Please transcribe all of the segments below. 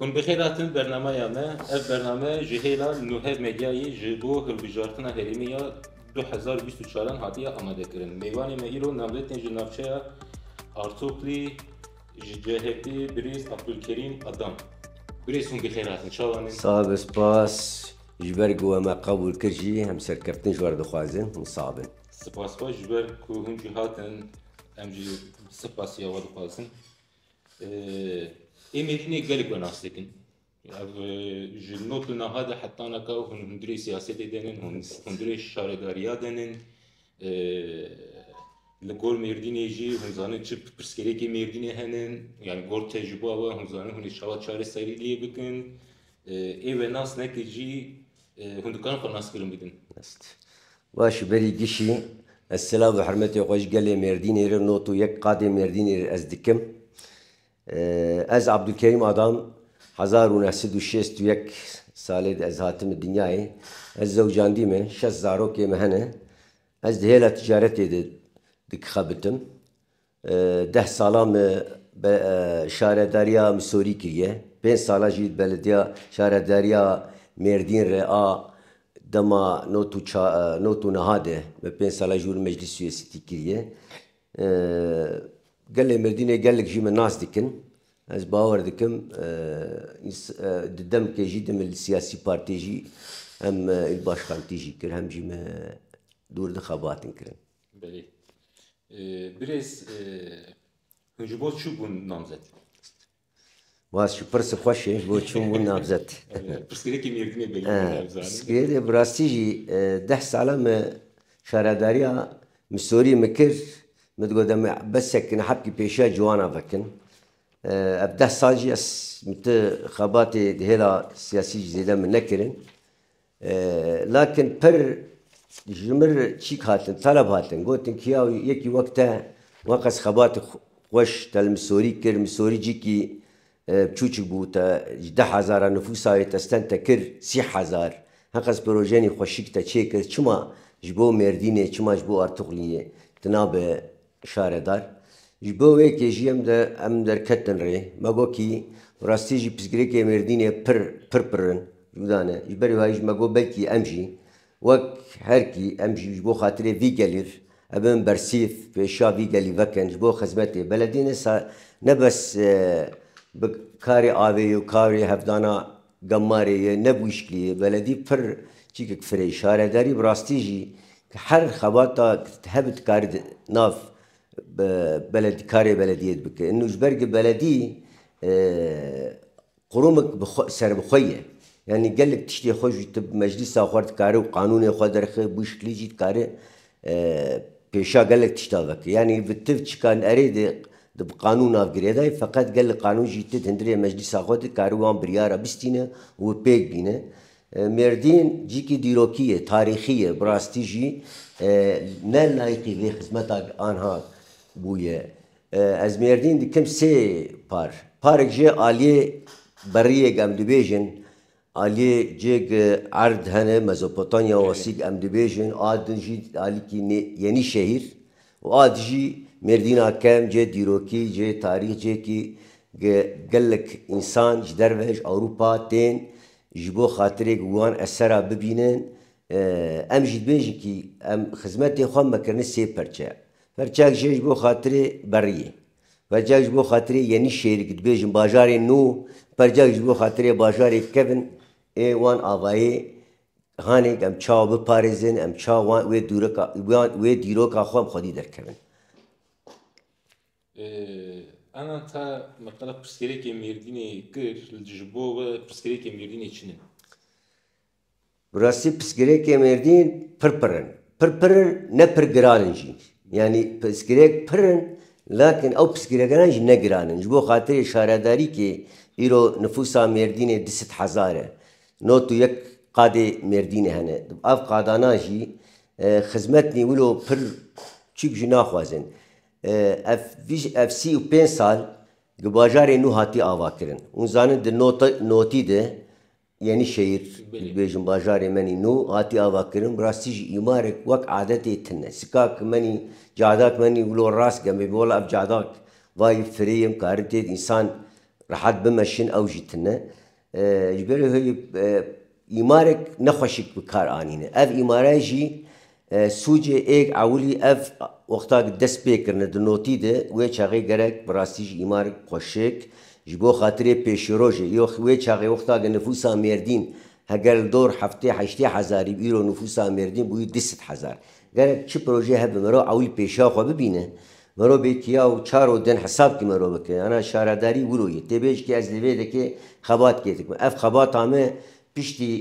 Hûn bi xêr hatin bernamaya me. Ev bername ji hêla Nuhe Medyayê ji bo hilbijartina herêmê ya du hezar û bîst û çaran hatiye amadekirin. Mêvanê me îro navdê tên ji navçeya Artoklî ji CHP birêz Abdulkerîm Adam. Birêz hûn bi xêr hatin. Çawan in? Sag bin spas ji ber ku we me qebûl kir jî em serkeftin ji wer dixwazin. Hûn sag bin. Spas xwe ji ber ku hûn jî hatin. Em jî spas ya we dixwazin. Ê mêtinê gelek we nas dikin. Ev ji not û naha de hetanaka hûn hundirê siyasetê denin, hûn hundirê şaredariya denin. Li gor Mêrdînê jî hûn zanin çi pirsgirêkê Mêrdînê henin. Yani gor tecrüba we hûn zanin hûn ê çawa çareserî lê bikin. Ê venas nekê jî Hûn dikarin xwe naskirin bidin? Rast. Baş berî gişî ez silav û hirmetê xwe ji gelê Mêrdînê re not û yek qadê Mêrdînê re ez dikim. Ez Abdulkerîm Adam hezar û neh sed û şêst û yek salê de ez hatime dinyayê. Ez zewcandî me, şest zarokê me hene. Ez di hêla ticaretê de dikixebitim. Deh salan me bi Şaredariya Misûrî kiriye, pênc salan jî di Belediya Şaredariya Mêrdîn re a dema not û niha de me pênc salan jî wilo Meclîs Siyasîtî kiriye. Gelê Mêrdînê gelek jî min nas dikin. Ez bawer dikim di demkê jî di min siyasî partiyê jî hem îl başxantî jî kir hem jî me dûr di xebatin kirin. Belê. Birêz hûn ji bo çû bûn namzet? Baz şu pırsy xweş e, bo çûm bûn namzet. Pirsgirêkê mêrdinê belê heye bizanin. Pirsgirêkê bi rastî jî deh sala me şaredariya Misorî min kir. Min digot em ê besek nehebkî pêşiya ciwanan vekin. Ev deh sal jî ez min ti xebatê di hêla siyasî jî zêde min nekirin. Lakin pir ji mir çîk hatin, teleb hatin, gotin ki ya yekî wek te weqas xebatê xweş te li Misorî kir, Misorî cîkî bçûçik bû, te ji deh hezara nifûsa wê te sten te kir sî hezar, heqas pirojenî xweşik te çêkir, çima ji bo Mêrdînê, çima ji bo Artuxliyê tu nabe Şaredar, Ji bo wê kê jî em em derketin rê. Me got kî bi rastî jî pirsgirêkê Mêrdînê pir pir pir in. Cuda ne. Ji berî wayî jî me got belkî em jî wek her kî em jî ji bo xatirê vî gelî re bin bersîv pêşiya vî gelî vekin ji bo xizmetê beledînê ne bes bi karê avê û karê hevdana Gemarê ye ne bûşkî ye beledî pir çîkik firê şaredarî bi rastî jî ke her xebata hebi dikarî di nav beledî karê beledîyê di bike îno ji ber ke beledî qurumik bi xwe serbixwe ye yanî gelek tiştê xwe jî ti bi meclîsa xwe re dikare û qanûnê xwe derxe bûşkî jî dikare Pêşa gelek tişta vekir. Yanî bi tiv çikan erê di di bi qanûn nav girêdayê feqet gel li qanûn jî tit hundirê meclîsa xwe di karî wan biryara bistîne û wi pêk bîne. Mêrdîn cîkî dîrokî ye, tarîxî ye, bi rastî jî ne layiqî vê xizmeta anha bûye. Ez Mêrdîn dikim sê par. Parek jê aliyê beriyê gem dibêjin Aliyê cêg erd hene Mezopotamya û Asîg em dibêjin a din jî alîkî nê yenî şehîr û a di jî Mêrdîna Kem cê dîrokî, cê tarîx cêkî ge gelek însan ji derve ji Ewropa tên ji bo xatirê ge wan esera bibînin. Em jî dibêjin kî em xizmetê xwe me kirine sê perçe. Perçek jê ji bo xatirê beriyê. Percek ji bo xatirê Yenîşehîr ku dibêjin bajarê nû, percek ji bo xatirê bajarê kevn ê wan avayê hanê ku em çawa biparêzin, em çawa wan wê dûrika wan wê dîroka xwe em xwedî derkevin. Ana ta meqala pirsgirêkê Mêrdînê kir, ji bo we pirsgirêkê Mêrdînê çi ne? Bi rastî pirsgirêkê Mêrdîn pir pir in. Pir pir in ne pir giran in jî. Yanî pirsgirêk pir in lakin ew pirsgirêkanan jî ne giran in. Ji bo xatirê şaredarîkê îro nifûsa Mêrdînê du sed hezar e. Not û yek qadê Mêrdînê hene. Ev qadanan jî xizmet nî wilo pir çîk jî naxwazin. Ev ev sî û pênc sal di bajarê nû hatiye avakirin. Hûn zanin di notî de Yenîşehîr, dibêjin bajarê menî nû hatî avakirin, bi rastî jî îmarek wek adetê tine. Sikak menî, cadak menî wilo rast gemê bi wela ev cadak vayî firê ye, karin têd însan rehet bimeşin ew jî tine. Ji berê wê îmarek ne xweşik bi kar anîne. Ev îmare jî Sûcê êg ewilî ev wexta ku dest pê kirine di notî de wê çaxê gerek bi rastî ji îmar xwe şik ji bo xatirê pêşîrojê yo wê çaxê wexta ku nifûsa Mêrdîn heger li dor heftê heştê hezarî bi îro nifûsa Mêrdîn bûyî du sed hezar gerek çi projeyê hebe mirov ewil pêşiya xwe bibîne mirov bê kiya û çar û din hesab kî mirov bike ana şaredarî wilo ye tê bêj kê ez li vê dekê xebat kê dikim ev xebata me piştî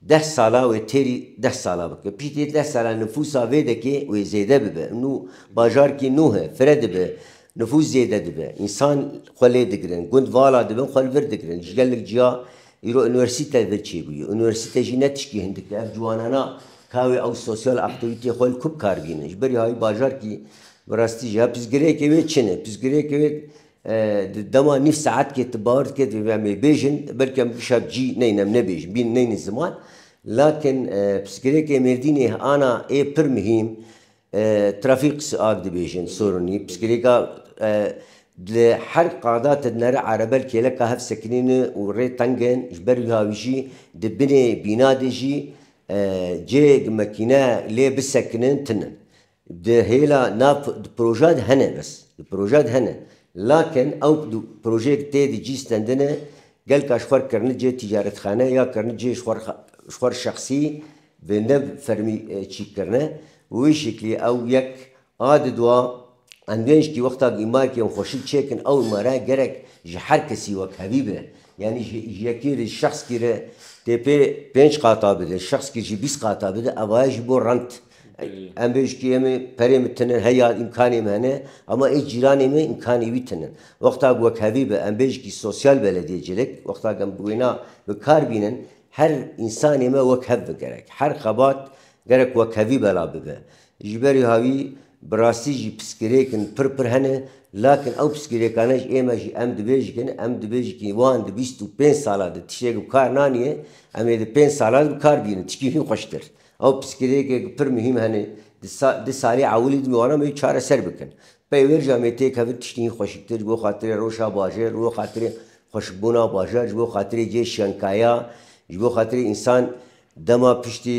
Deh sala wê têrî deh sala bike. Piştî deh sala nifûsa vê dekê wê zêde bibe. Nû bajarkî nû he, fire dibe, nifûs zêde dibe. Însan xwe lê digirin, gund vala dibin xwe li vir digirin. Ji gelek ciya îro unîversîte vir çêbûye. Unîversîte jî ne tişkî hindik e. Ev ciwanana ka wê ew sosyal aktîvîteyê xwe li ku bi kar bînin. Ji berî hayî bajarkî bi rastî jî ha pirsgirêkê wê çin e. Pirsgirêkê wê Di dema nîv saetkê tu bawer dikî divê em ê bêjin, belkî em di şer cî neyne em nebêjin, bîn neyne ziman. Lakin pirsgirêkê Mêrdînê ana ê pir muhîm, trafîk siag dibêjin soronî. Pirsgirêka li her qada tu dinere erebel kêleka hev sekinîn in û rê teng in. Ji ber wiha wî jî di binê bîna de jî cêg mekîne lê bisekinin tune. Di hêla na di proja de hene bes. Di proja de hene. Lakin ew di projeyê ki tê de cî stendine gel ka ji xwe re kirine cihê tîcarethane ya kirine cihê ji xwe re ji xwe re şexsî bi ne bi fermî çî kirine. Bi wê şeklî ew yek a di dua endûyên jî wexta ku îmarekî ew xweşik çê kin ew îmare gerek ji her kesî wek hevî be. Yanî ji yekî re ji şexskî re tê pê pênc qata bide, ji şexskî re jî bîst qata bide ev aye jî bo rent. Em bêjkiyê me, perê me tune, heya îmkanê me hene ama ê cîranê me îmkanê wî tune. Wexta ku wek hevî be em bêjkî sosyal be ledê cilik, wexta ku em bi wêna bi kar bînin, her însanê me wek hev be gerek. Her xebat gerek wek hevî bela bibe. Ji berî havî bi rastî jî piskirêkin pir pir hene lakin ew piskirêkane ji ême jî em dibêjkin, em dibêjkî wan di bîst û pênc sala di tiştê ku bi kar naniye, em ê di pênc sala di bi kar bînin tişkî hîn xweştir. Ew pirsgirêkê ku pir muhîm hene di salê ewilî di wana me wî çareser bikin. Peyvêrja me tê kevin tiştî hîn xweşiktir ji bo xatirê rewşa bajêr, ji bo xatirê xweşikbûna bajar, ji bo xatirê cihê şenkaya, ji bo xatirê însan dema piştî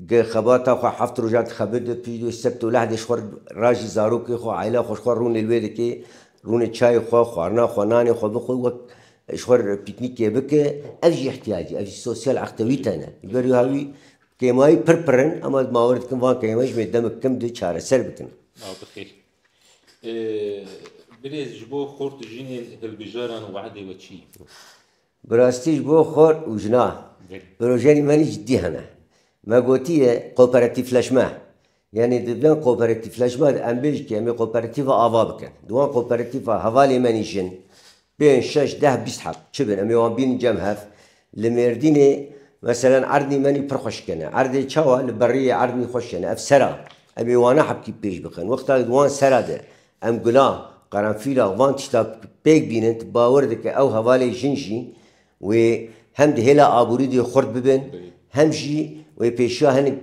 gi xebata xwe heft rojan dixebit be pişt dû sebt û lehdê ji xwe re ra jî zarokê xwe, aîla xwe ji xwe rûnê li wê dikê, rûnê çayê xwe, xwarina xwe, nanê xwe bixwe wek Ji xwe re pîknîkê bike, ev jî îhtiyacê, ev jî sosyal eqtê wî tene. Ji ber wiha wî kêmayî pir pir in em ez mawir dikim van kêmayî ji me demik kim di çareser bikin. Nav bixêr. Birêz ji bo xort û jinên hilbijaran wehdê we çi ye? Bi rastî ji bo xort û jinan projenî menî cidî hene. Me gotiye koperatîfleşme. Yanî di vê koperatîfleşma de em bêj ke em ê koperatîfa ava bikin. Di wan koperatîfa hevalê me nîşin, pênc, şeş, deh, bîst heb çi bin em ê wan bînin cem hev. Li Mêrdînê meselen erdnî menî pir xweş kene. Erdê çawa? Li beriyê erdnî xweş kene. Ev ser a. Em ê wana hebkî pêş bikin. Wexta di wan sera de em gula, qerenfîla van tişta pêk bînin tu bawer dike ew hevalê jin jî wê hem di hêla aborî de xurt bibin hem jî wê pêşiya hinek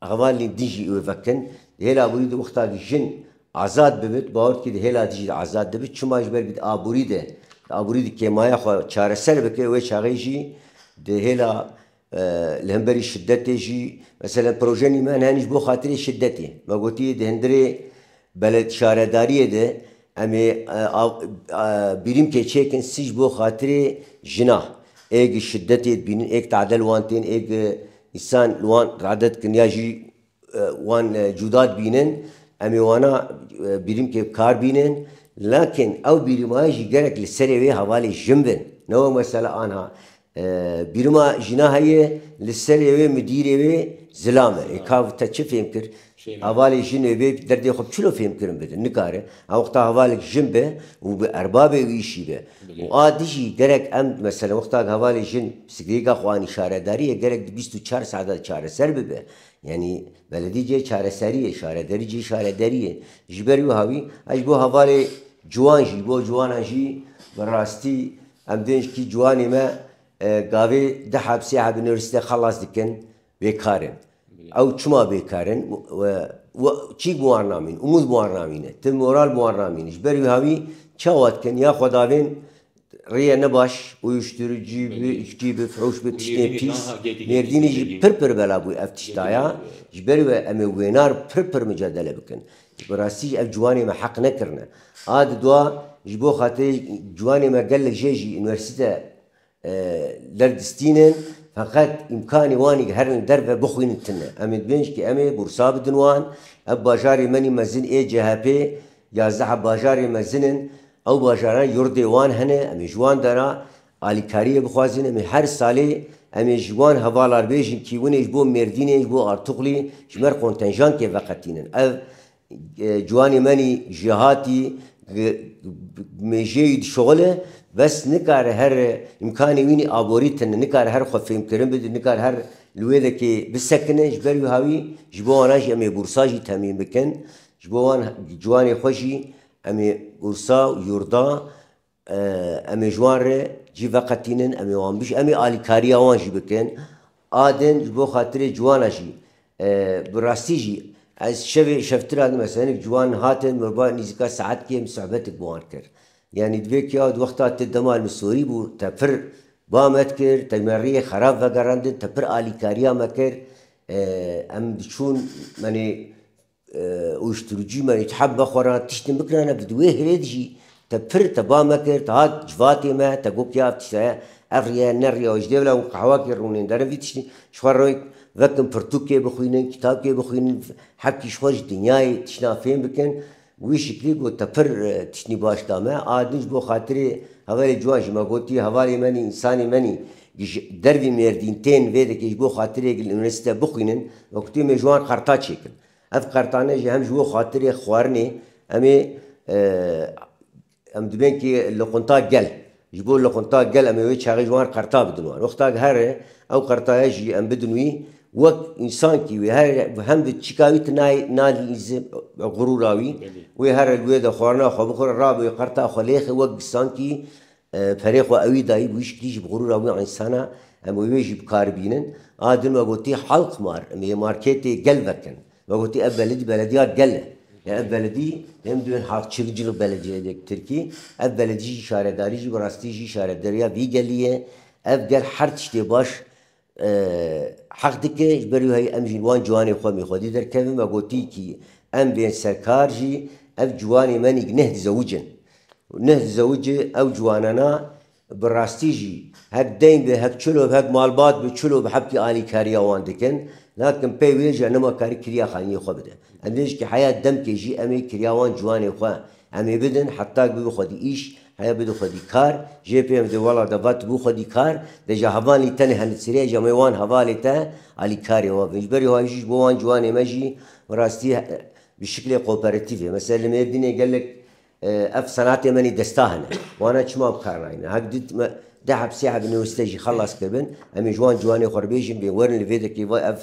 Hevalên din jî wê vekin. Di hêla aborî de wexta ku jin azad bibin, tu bawer dikî di hêla din jî de azad dibin. Çima? Ji ber ku di aborî de, di aborî de kêmaya xwe çareser bike, wê çaxê jî di hêla li hemberî şidetê jî, meselen projenî me hene hene jî bo xatirê şidetê. Me gotiye di hundirê bele şaredariyê de, Em ê birîmkê çêkin sî ji bo xatirê jina. Ê gi şidetê dibînin, ê gi tade li wan tên, ê gi însan li wan rade dikin ya jî wan cûda dibînin. Em ê wana birîmkê bi kar bînin. Lakin ew birîmaya jî gerek li serê wê hevalê jin bin. Ne wek mesela anha Bîruma jîna heye li serê wê midîrê wê zilam e. Ê kav te çi fêm kir? Hevalê jin ê bê derdê xwe bi çilo fêm kirin bidin. Nikare hewqta hevalek jin be û bi erbabê wî îşî be. Û a di jî gerek em meselen wexta ku hevalê jin pisikirêka xwe anî şaredarî ye gerek di bîst û çar saet de çareser bibe. Yanî beledî cihê çareserî ye, şarederî cihê şarederî ye. Ji ber wiha wî ez ji bo hevalê ciwan jî ji bo ciwanan jî bi rastî Em dênjkî ciwanê me gavê di heb sê heb universîte xelas dikin bêkar in. Ew çima bêkar in û çî bi wan namîn? Umûd bi wan namîne, ti moral bi wan namîne. Ji ber wiha wî çawa dikin? Ya xwe davên rêyê ne baş, uyuşturucî bi, içkî bi, firoş bi, tiştên pîs. Mêrdînê jî pir pir bela bû ev tişta ya. Ji ber wê em ê wênar pir pir mucadele bikin. Bi rastî jî ev ciwanê me heq nekirine. A di dua ji bo xatirê ciwanê me gelek jê jî unîversîte derdistînin feqet îmkanê wan herin li derve bixwînin tune. Em ê dibêjin ku em ê bursa bidin wan. Ev bajarê menî mezin ê CHP yazdeha bajarê mezin in. Ew bajaran yurdê wan hene. Em ê ji wan dera Alîkariyê bixwazîn em ê her salê em ê ji wan hevalar bêjin kî winê ji bo Mêrdînê, ji bo Artuxlî ji mer kontenjankê veqetînin. Ev ciwanê menî jêhatî mêjeyî dişuxile bes nikare her îmkanê wînî aborî tine, nikare her xwe fêmkirin bide, nikare her li wê de kê bisekine. Ji ber wiha wî ji bo wanan jî em ê bursa jî temîn bikin. Ji bo wan ciwanê xwe jî em ê bursa û yurda. Em ê ji wan re cî veqetînin, em ê wan bijî, em ê alîkariya wan jî bikin. A din ji bo xatirê ciwan a jî. Bi rastî jî ez şevê şevtira din mesela hinek ciwan hatin min ba nîzika saetkê min sohbetik bi wan kir. Yanî divê ke ya di wexta te dema li min sorî bû te pir ba me dikir, te ji me rêyê xerab vegerandin, te pir alîkariya me kir. Em diçûn menê Uyuşturucî me îtihab be xwe re, tiştên bikira ne bi di wê hirê de jî te pir te ba me kir, te hat civatê me, te got ya ev tişt heye, ev rêya ne rêya we ji dê bila hûn qehwakê rûnên derin vî tiştî ji xwe re vekin pirtûkê bixwînin, kitapkê bixwînin, hekî ji xwe ji dinyayê tiştan fêm bikin. Bi wî şiklî got te pir tiştî baş da me. A din ji bo xatirê hevalê ciwan jî me gotiye hevalê men î, însanê men î. Ji dervî Mêrdîn tên vê dikê ji bo xatirê gil univesîte bixwînin û kutî em ê ji wan qerta çêkin. Ev qertane jî hem ji bo xatirê xwarinê em ê em dibên ki liqunta gel. Ji bo liqunta gel em ê wê çaxê ji wan qerta bidin wan. Wexta ki here ew qertaya jî em bidin wî wek însan kî wê her hem bi çîka wî tu nalîzî xurûra wî wê here li wê de xwarina xwe bixwire rabe wê qerta xwe lêxe wek gisan kî Perê xwe ewî dayî bi wî şikilî jî bi xurûra wî însana em û wê jî bi kar bînin. A din we gotî Halkmar em ê marketê gel vekin. We gotî ev beledî belediya gel e. Lê ev beledî em diwên halkçilcil belediyeyê dê bi tirkî. Ev beledî jî şaredarî jî bi rastî jî şaredariya vî gelî ye. Ev gel her tiştê baş Heq dike ji ber wî em jî wan ciwanê xwe mî xwedî derkevin ve gotî kî em bên serkar jî ev ciwanê me nîk neh dizewicin û neh dizewicê ew ciwanena bi rastî jî hek deyn be hek çil û hek malbat be çil û bi hepkî alîkariya wan dikin nakin pey wê jî nima karî kiriya xaniyê xwe bide em dê jî kî heya demkê jî em ê kiriya wan ciwanê xwe Em ê bidin heta ku bi xwedî îş heye bidin xwedî kar. Jê pê em di wela de va tu bi xwedî kar de ji hevalî tenê henitsirê ji me wan hevalê te alîkarê wan bin. Ji berî wayî jî ji bo wan ciwanê me jî bi rastî bi şiklê koperatîfê mesela li Mêrdînê gelek ev senatê menî desta hene. Wana çima bi kar nayîne. Hek du me deh eb sê eb newiste jî xelas kiribin. Em ê ji wan ciwanê xwe re bêjin bê werin li vê dekê ve ev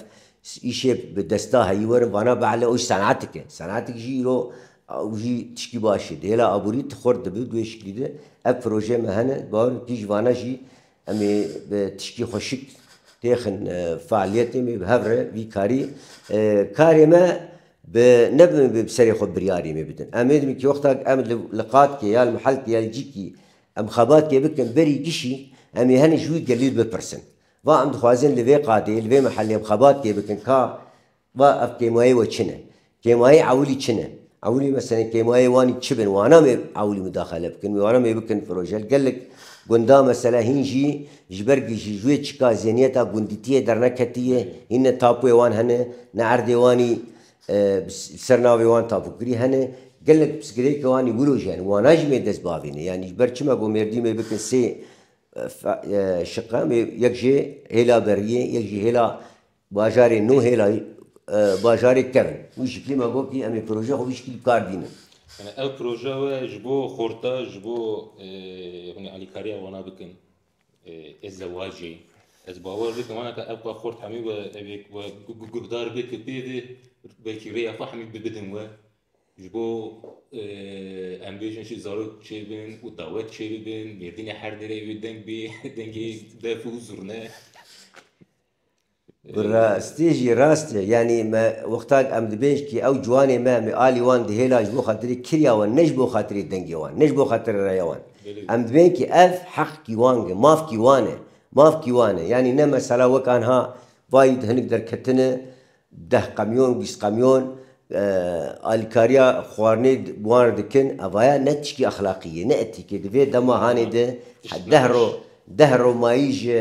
Îşê bi desta heyî werin vana behle û senatik e. Senatik jî îro ew jî tişkî baş e. Di hêla aborî tu xurt dibî duê şiklî de ev projeyê me hene. Di bawer in kîj vana jî em ê bi tişkî xweşik têxin fealiyetê me bi hev re vî karî karê me bi ne bi bi serê xwe biryarê me bidin. Em êdimî kî wexta em li qatkê ya li mihelkê ya li cîkî em xebatkê bikin berî gişî em ê henî ji wî gelî bipirsin. Va em dixwazin li vê qadê, li vê mehellê em xebat tê bikin ka va ev kêmayê we çi ne? Kêmayê ewilî çi ne? Ewilî meselen kêmayê wanî çi bin? Wana mê ewilî mudaxele bikin, wana mê bikin projel. Gelek gunda mesela hîn jî ji ber ji wê çika zêniyeta gundîtiyê derneketiye, hîn ne tapuê wan hene, ne erdê wanî bi ser navê wan tapukirî hene. Gelek pirsgirêkê wanî wilo jî hene. Wana jî mê dest bavîne. Yanî ji ber çi me got mêrdî mê bikin sê Şiqe em ê yek ji hêla beriyê yek jî hêla bajarê nû hêla bajarê tev in. Wî şiklî me got kî em ê projeya xwe vî şiklî bi kar dînin. Yanî ev projeya we ji bo xorta ji bo hûnê alîkariya wana bikin ê zewacê. Ez bawer dikim wana ka ev ka xort hemî we ev ê we guhdar bê tu pê ve belkî rêya xwe hemî bidin we. Ji bo em bêjin jî zarok çêbin û dawet çêbibin, mêrdînê her derê wê deng bê, dengê def û zurne. Bi rastî jî rast e. Yanî me wextak em dibêjin kî ew ciwanê me, em ê alî wan dihêla ji bo xatirê kirya wan, ne ji bo xatirê dengê wan, ne ji bo xatirê reya wan. Em dibêjin kî ev heq kî wan e, maf kî wan e, maf kî wan e. Yanî ne mesela wek anha vayî di hinik derketin e, Deh qemyon, bîst qemyon alîkariya xwarinê bi wan re dikin, eva ye ne tişkî exlaqî ye, ne etîk ye. Di vê demahanê de deh roj, deh roj mayî ji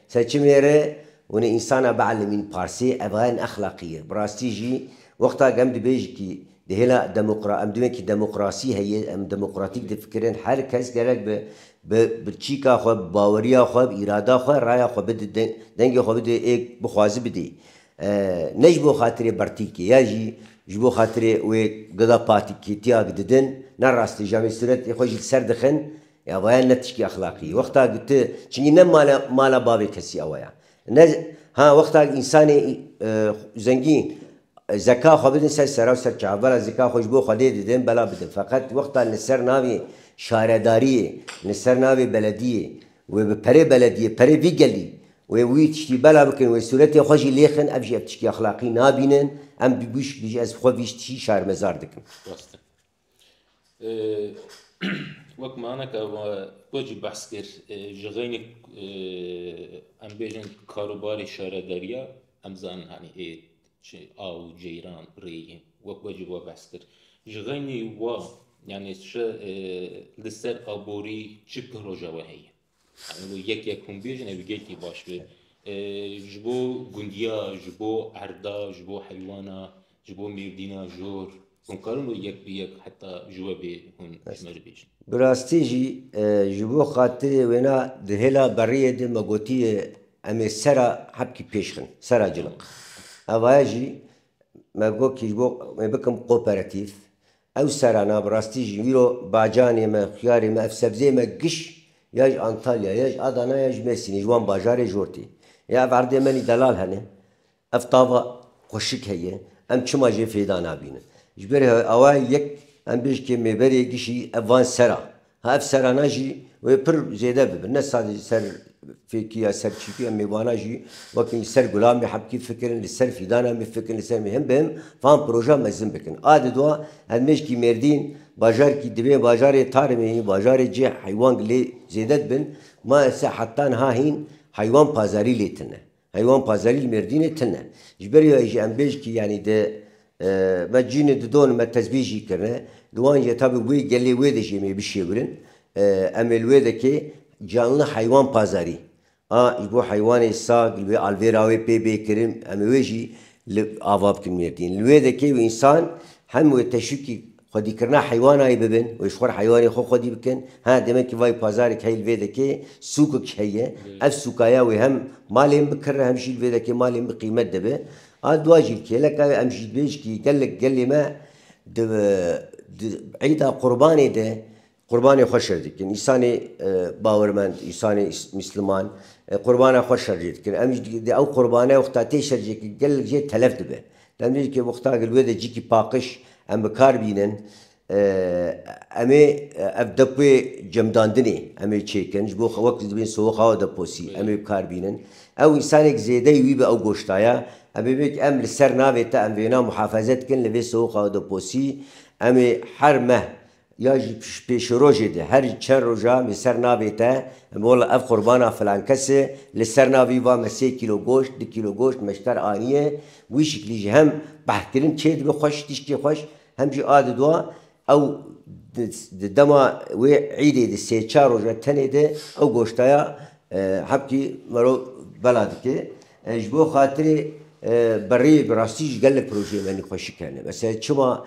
seçimê re hûnê însanan bielimîn parsê, eva ye neexlaqî ye. Bi rastî jî wexta ku em dibêjikî di hêla demokra em di wekî demokrasî heye, em demokratîk difikirin, her kes gerek bi bi çîka xwe, bi baweriya xwe, bi îrada xwe raya xwe bide, dengê xwe bide ê bixwaze bidê. Ne ji bo xatirê bertîkê ya jî ji bo xatirê wê gila patikîtiyak didin, ne rast e, ji amê sûretê xwe jî li ser dixin, ya vaya ne tişkî exlaqî ye. Wexta ku tu, çinkî ne mala mala bavê kesî ew aya. Ne, ha wexta ku însanê zengîn zeka xwe bidin ser sera û ser çav, bela zeka xwe ji bo Xwedê didin, bela bidin. Feqet wexta li ser navê şaredariyê, li ser navê belediyê Wê bi perê belediyê, perê vî gelî wê wî tiştî bela bikin, wê sûretê xwe jî lêxin, ev jî ev tiştî exlaqî nabînin, em bi bûşk dijî ez xwe vî tişî şermezar dikim. Rast e. Wek maneke ku jî behs kir ji xeynî em bêjin karûbarê şaredariya em zanin hanî ê Çi aw û ceyran rêyê wek we ji we behs kir. Ji xeynî we yanî çi li ser aborî çi piroja we heye? Yanî wê yek yek hûn bêjin ew gelkî baş be. Ji bo gundiya, ji bo erda, ji bo heywana, ji bo mêrdîna jor. Hûn karin wê yek bi yek heta ji we bê hûn ji me re bêjin. Bi rastî jî ji bo xatirê wêna di hêla beriyê de me gotiye em ê sera hepkî pêş xin, sera ciliq. Evaye jî me got kî ji bo em ê bikim kooperatif. Ew sera na bi rastî jî îro bacanê me, xiyarê me, ev sebzeyê me giş ya ji Antalya, ya ji Adana ya ji Mêrsînê ji wan bajarê jortê. Ya ev erdê me nî delal hene. Ev tava xweşik heye, em çima jê fêda nabînin. Ji ber awe yek em bêj ke mêberê gişî ev van sera. Ha ev serana jî wê pir zêde bibin. Ne sadece ser fêkî ya ser çîkî em mêvana jî wekî li ser Gulamê Hepkî fikirin, li ser fîdana me fikirin, li ser him bi him van projeya mezin bikin. A di dua ev mêşkî mêrdîn bajar kî divê bajarê Tarimê yê bajarê cih heywan lê zêde dibin. Ma ese heta niha hîn heywan pazarî lê tune. Heywan Pazarî li Mêrdînê tune. Ji ber wê jî em bêj kî yanî di me cînê di don me tezbît jî kirine. Li wan jî heta bi wê gelê wê de jî em ê bişêwirin. Em ê li wê de kê Canlı Heywan Pazarî a ji bo heywanê sag li wê alvêra wê pê bê kirin. Em ê wê jî li ava bikin Mêrdîn. Li wê de kê û însan hem wê teşwîkî Xwedîkirina heywanayî bibin û ji xwe re heywanên xwe xwedî bikin. Ha demekî vayî pazarek heye li vê dekê, sûkek heye. Ev sûkaya wê hem malên bikirine hem jî li vê dekê malên bi qîmet dibe. A dua jî li kêleka wê em jî dibêjikî gelek gelê me di di Îda Qurbanê de Qurbanê xwe şer dikin. Îsanê bawermend, îsanê misliman qurbana xwe şer jê dikin. Em jî di ew qurbane wexta tê şer jê ki gelek jê telef dibe. Dem dê ki wexta gel wê de cîkî paqiş em bi kar bînin. Em ê ev depuyê cemdandinê em ê çêkin ji bo wek dibin sowe xawa deposî em ê bi kar bînin. Ew îsanêk zêdeyî wî bi ew goşta ya. Em ê vê ki em li ser navê te em vêna muhafeze dikin li vê sowe xawa deposî. Em ê her meh Ya jî pêşerojê de her çend rojan li ser navê te wela ev qurbana filan kes e, li ser na vî va me sê kîlo goşt, du kîlo goşt meşter aniye. Wî şiklî jî hem behkirin çê dibe xweş, tiştê xweş hem jî a didwa ew di dema wê îdê di sê çar roja tenê de ew goşta ya hebkî merov bela dike. Ji bo xatirê berê bi rastî jî gelek projeyên me nî xweşik hene. Mesela çima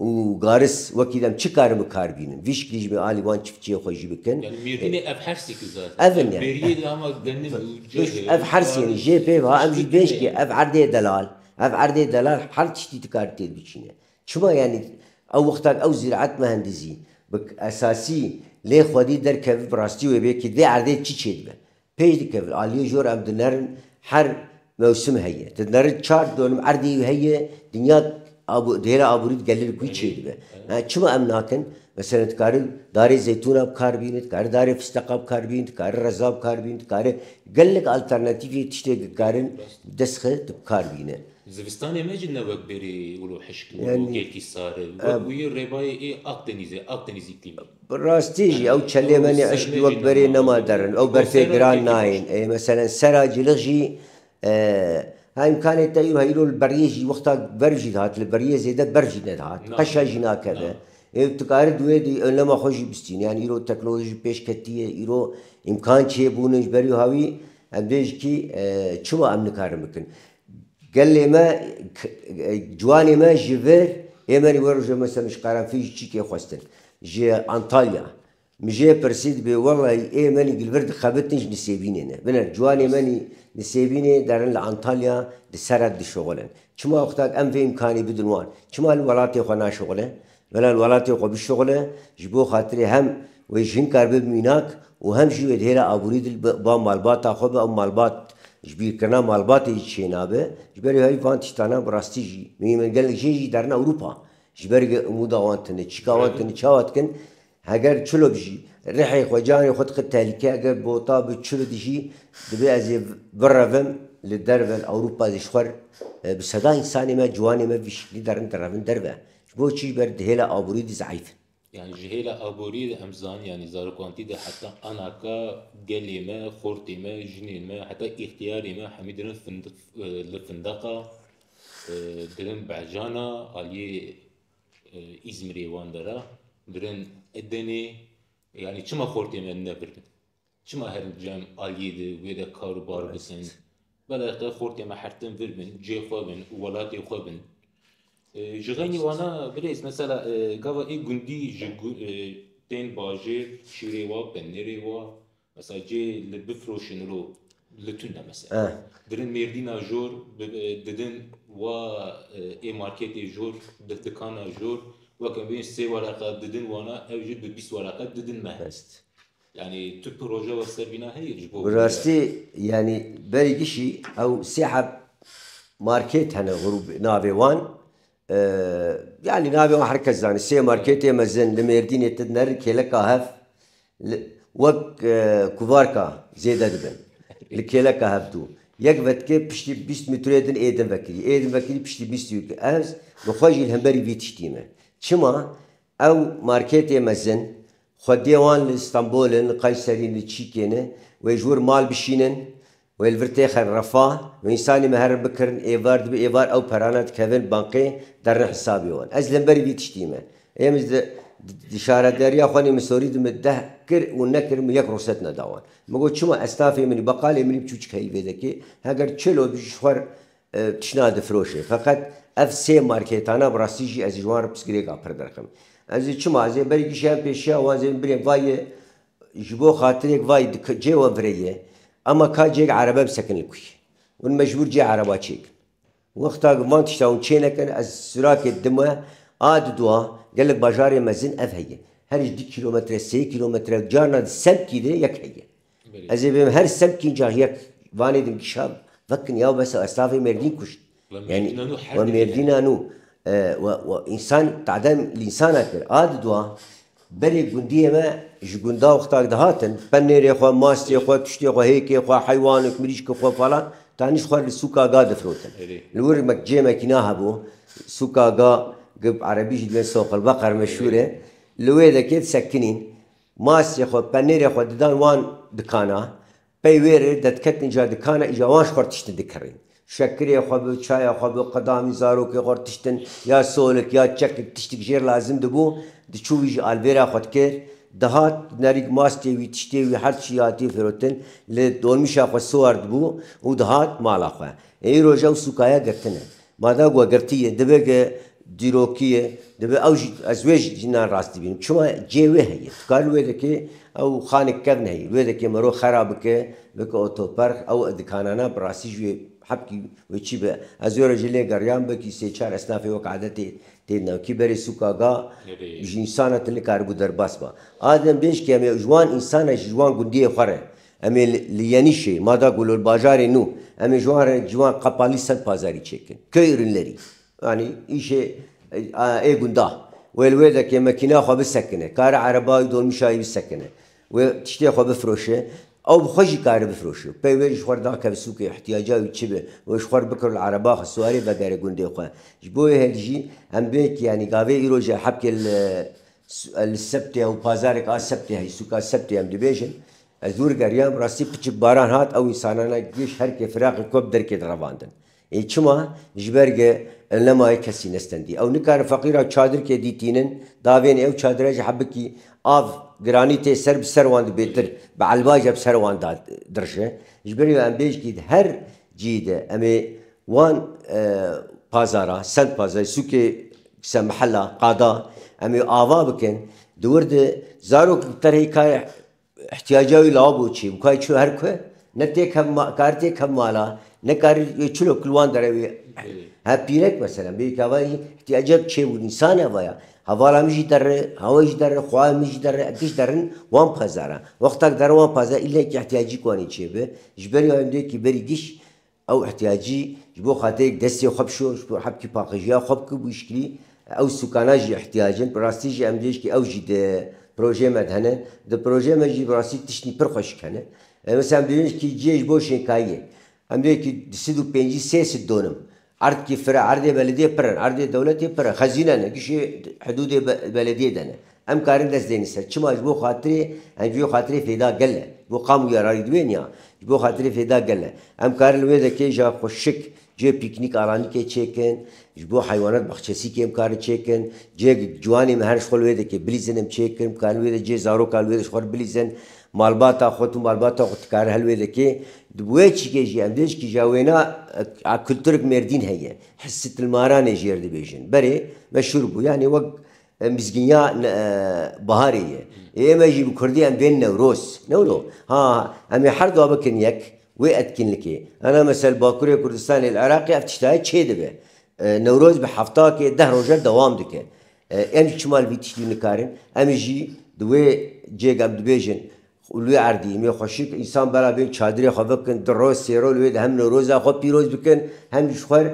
Û garis wekî dem çi karim bi kar bînim? Vî şikilî jî alî wan çiftçiyê xwe jî bikin. Yanî mêrdînê ev hersî ki zaten. Ev in yanî. Bêriyê de hema genim û cihê û Ev hers karê yanî jê pê va em jî bêj kê ev erdê delal, ev erdê delal her tiştî ti karî têr biçîne. Çima yanî ew wexta ew zîraet mehendizî bi esasî lê xwedî derkevî bi rastî wê bê ki dê erdê çi çêdibe. Pêş dikevin. Aliyê jor em dinerin her mewsim heye. Tu dinerin çar donim erdê wî heye, dinya di hêla aborî digelin ku çê dibe. Çima em nakin? Meselen dikarin darê zeytûna bikar bînin, dikarin darê fisteqa bikar bînin, dikarin reza bikar bînin, dikarin gelek alternatîfê tiştê dikarin dest xin tu bikar bînin. Zivistanê me jî ne wek berê wilo hişk û wilo gelkî sar e. Wek wî rêbayê ê Akdenîz e, Akdeniz îklîmî. Bi rastî jî ew çelêmenê eşkî wek berê nema derin. Ew berfê giran nayên. Ê meselen sera cilix jî a îmkanê te îro heyîro li beriyê jî wexta berf jî dihat li beriyê zêde berf jî nedihat. Qeşa jî nakeve. Ê tu dikari di wê de onlema xwe jî bistînî. Yan îro teknolojî pêş ketiye, îro îmkan çêbûn in ji ber wî hawî em dê jikî çi wa em nikarin bikin. Gelê me, ciwanê me ji vir ê me wero ji me semiş qerenfî ji çîkê xwestin. Ji Antalya. Min jê pirsî dibê wellahî ê me li vir dixebitin ji nisêbînê ne. Biner ciwanê me nî nisêbînê derin li Antalya di seret dişixulin. Çima oxtak em vê îmkanî bidin wan? Çima li welatê xwe naşixulin? Mela li welatê xwe bişuxile, ji bo xatirê hem wê ji hin kar bibe mînak û hem jî wê di hêla aborî de li ba malbata xwe be û malbat ji bîrkirina malbatê jî çê nabe. Ji ber wê van tiştana bi rastî jî mînin. Gelek jin jî derin Ewropa ji ber umûda wan tune. Çîka wan tune, çawa dikin? Heger çilop jî rihê xwe, canê xwe dixe tehlîkeyê, heger bota bi çilot jî dibê ez ê birevim li derve li Ewropa zî ji xwe re bi seda însanê me, ciwanê me vî şeklî de rin direvin derve. Ji bo çi? Ji ber di hêla aboriyê de zeîf in. Yanî ji hêla aboriyê de em zanin yanî zarokantî de heta anaka gelê me, xortê me, jinên me heta îxtiyarê me hemî dirin findiq li findeqa dirin behcana aliyê Îzmîrê wan de ra birên Edenê yanî çima xortê me nebirin? Çima her cem aliyê de wê de kar û bar bikin? Belê qe xortê me hertin vir bin, cê xwe bin û welatê xwe bin. Ji xeynî wana birêz mesela gava ê gundî ji tên bajêr şîrê wa, penêrê wa, Mesela cê li bifroşin ro li tun ne mesela. Eh. Dirin mêrdîna jor didin wa ê marketê jor di dikana jor weke bên sê wereqa didin wana ew jî bi bîst wereqa didin me. Best. Yani tu proje we ser vîna heye ji bo. Bi rastî yani berî kişî ew sê heb market hene grûp navê wan. Yanî navê wan her kes zanî. Sê marketê mezin li Mêrdînê tê din herî kêleka hev wek kuvarka zêde dibin. Li kêleka hev dû. Yek vetikê piştî bîst mîtrê din ê din vekirî. Ê din vekirî piştî bîst yû. Ez bi xwe jî li hemberî vî tiştî me. Çima? Ew marketê mezin, xwediyê wan li Stenbol in, li Kayserî in, li Çîkê ne. Wê ji wir mal bişînin, wê li vir têxin refa. Wê însanî me herin bikirin êvar, dibe êvar ew perana dikevin bankê, derin hisabê wan. Ez li hemberî vî tiştî me. Ê min ji di şaredariya xwe nêmisorî di min deh kir û nekir min yek ruhset neda wan. Min got çima estafê min î beqalê min î biçû çik heyî vê vekê, heger çil o dijî ji xwe re Tiştan difiroşê. Feqet ev sê marketana bi rastî jî ez ji wan re pirsgirêka pir dirxim. Ez ê çima? Ez ê berî kişayim pê şiya wan zê birê vayê ji bo xatirêk vayê di cê we vireyê ema ka cêk erebe bisekin li kuyê. Hûn mecbûr cê ereba çêkin. Wexta ku van tişta hûn çênekin ez sûrakê dime a diduwa gelek bajarê mezin ev heye. Her ji du kîlometre, sê kîlometre carna di semtî de yek heye. Ez ê bêm her semtîn car yek vanê din kişa vekin ya besa ez tavê mêrdîn kuşt yanî we mêrdîna nû we însan tadem li însana kir a di dua berê gundiyê me ji gunda wextak dihatin penêrê xwe mastê xwe tiştê xwe hêkê xwe heywanik mirîşki xwe falan tanî xwe li sûka ga difirotin li wir me cêmekî na hebû sûka ga gib erebî jî dibên soqilbeqer meşûr e li wê de kê disekinîn Masê xwe, penêrê xwe didan wan dikana. Pey wê re dediketin ca dikana îja wan ji xwe re tiştin dikirin. Şekirê xwe bi, çaya xwe bi, qedamî zarokê xwe re tiştin, ya solik, ya çekik, tiştik jê re lazim dibû, diçû wî ji alvêra xwe dikir. Dihat, nerîk mastê wî, tiştê wî her çî hatiye firotin, li dolmîşa xwe siwar dibû û dihat mala xwe. Ê îro jew sûkaya girtin e. Bardak we girtî ye, divê ke dîrokî ye, divê ew jî ez wê jî nan rastî bînim. Çima cê wê heye. Tu karî wê dikê ew xanê kevn heye, wê dikê miro xera bike, bike otoperx, ew dikanana bi rastî jî wê hepkî wê çî be. Ez wê re jî lê geriyan belkî sê çar esnafê wek adetê tê dina. Kî berê sûka ga ji însan re tu nikaribû derbas ba. A dem bêj ke em ê ji wan însan re jî ji wan gundiyê xwe re Em ê li Yenîşê, Mada Gulol, bajarê nû, em ê ji wan re ji wan qepalî sed pazarî çêkin. Köy ürünlerî, yanî îşê ê gunda wê li wê de ke mekîneya xwe bisekine, kare ereba û dolmuşa wî bisekine û tiştê xwe bifroşe, ew bi xwe jî kare bifroşe. Pey wê ji xwe re dakeve sûkê, îhtiyaca wî çi be, wê ji xwe re bikiro li ereba xwe, siwarê vegere gundê xwe. Ji bo wê hêl jî em bê yanî gavê îroj e hepkê li Li sebtê ew pazarek a sebtê heyî sûka sebtê em dibêjin. Ez dûr geriyam rastî piçik baran hat ew însanana giş herkê firaqê xwe bi derkê de revandin. Ê çima? Ji ber ge em nemayê kesî nestendî. Ew nikarin feqîran çadirkê dîtînin, davênê ew çadire ji hebikî av giranî tê ser bi ser wan di bêtir bi elbaje bi ser wan de dirije. Ji ber wê em bêjkî di her cihî de em ê Wan pazara, send pazarê sûkê se mihela qada em ê ava bikin. Di wir de zarokek bi terhê kayê îhtîyaca wî lawa bo çi? Bikaye çi her ku ne têk hev ma kar têk hev mala, ne karî wê çilok li wan dere wê he pîrek meselen bê yekê hava yî îhtîyaca bi çêbûn însanê hava ya. Hevala min jî derre, hawa jî derre, xwaya min jî derre, eke jî derin wan pazara. Wexta ku derin wan pazara îl ne yekê îhtîyacîk wanê çêbi. Ji ber wê em dê yekê berî giş Ew îhtîyacî ji bo xatirê destê xwe bişo, ji bo hebkî paqijîya xwe bike bû îşkilî. Ew sûkana jî îhtîyac in. Bi rastî jî em diyê jî ew jî di projeyê me de hene. Di projeyê me jî bi rastî tiştî pir xweşik hene. Misal em dibînin jikî cihê ji bo şênkayiyê. Em dibê jikî du sed û pêncî sê sed donim. Erd kî fir e. Erdê belediyê pir in. Erdê dewletê pir in. Xezîne ne. Gişê hidûdê belediyê de ne. Em karin dest dêne ser çima ji bo xatirê em ji bo xatirê fêda gel e. Ji bo qam û yararî divê nia. Ji bo xatirê fêda gel e. Em karin li wê de kêja xwe şik, cihê pîknîk aranîkê çêkin, ji bo heywanat baxçesîkê em karin çêkin, cihê ciwanê me her ji xwe li wê de kê bilîzin em çêkin, em karin li wê de cihê zaroka li wê de ji xwe re bilîzin, malbata xwe tu malbata xwe tu karin her li wê de kê. Di bi wê çîkê jî em dê ji kîja wêna a kulturek mêrdîn heye. Hissî tilmaranê jêr dibêjin. Berê me şûr bû. Yanî wek Em mizgînya baharê ye. Ê eme jî bi kurdî em bên Newroz. Newro. Ha, em ê her dua bikin yek wê etkînlikê. Ana mesela li Bakurê Kurdistanê, li Iraqê ev tişta ye çê dibe. Newroz bi heftakê deh roje dewam dike. Em jî çima li vî tiştî nikar in? Em jî di wê cêg em dibêjin Û li wê erdî, mê xweşik însan bera bên çadirê xwe bikin, du roj, sê roj li wê de hem Newroza xwe pîroz bikin, hem jî ji xwe re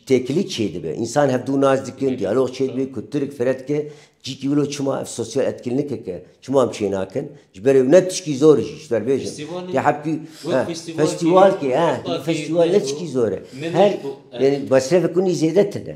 têkilî çêdibe. Însan hevdu nas dikin, diyalog çêdibê ku tu rikfire dike, cîkî wilo çima ev sosyal etkinlikek e, çima em çênakin? Ji ber wê ne tişkî zor e jî, ji ber bêjin, tê hebkî festîwalkê, festîwal ne tişkî zor e. Her, yanî mesrefê kunî zêde tune.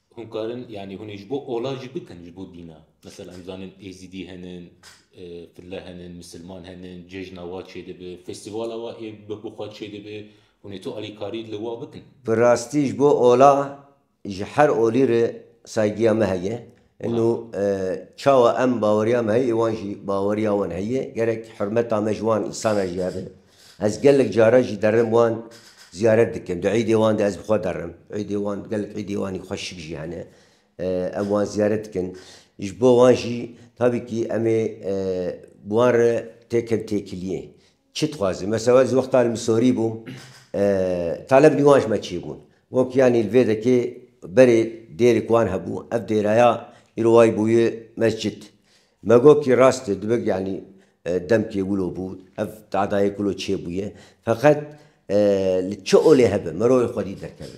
Hûn karin yanî hûn ê ji bo ola jî bikin ji bo dîna. Mesela em zanin Êzîdî henin, fille henin, misilman henin, cejna wa çêdibe, festîvala wa ê bi xwe çêdibe, hûn ê tu alîkarî li wa bikin. Bi rastî ji bo ola ji her olî re saygîya me heye. Îno çawa em baweriya me heye ê wan jî baweriya wan heye. Gerek hurmeta me ji wan însana jî hebe. Ez gelek caran jî derim wan ziyaret dikim. Di îdê wan de ez bi xwe derim. Îdê wan gelek îdê wanî xweşik jî hene. Em wan ziyaret dikin. Ji bo wan jî tabîkî em ê bi wan re têkin têkiliyê. Çi dixwazin? Mesela ez wexta li Misorî bûm talebî wan ji me çi bûn? Got yanî li vê dekê berê dêrek wan hebû. Ev dêreya îro wayî bûye mescid. Me got ki rast e dibe yanî demkê wilo bû ev tadayê kulo çêbûye feqet li çi olê hebe mirovê xwedî derkeve.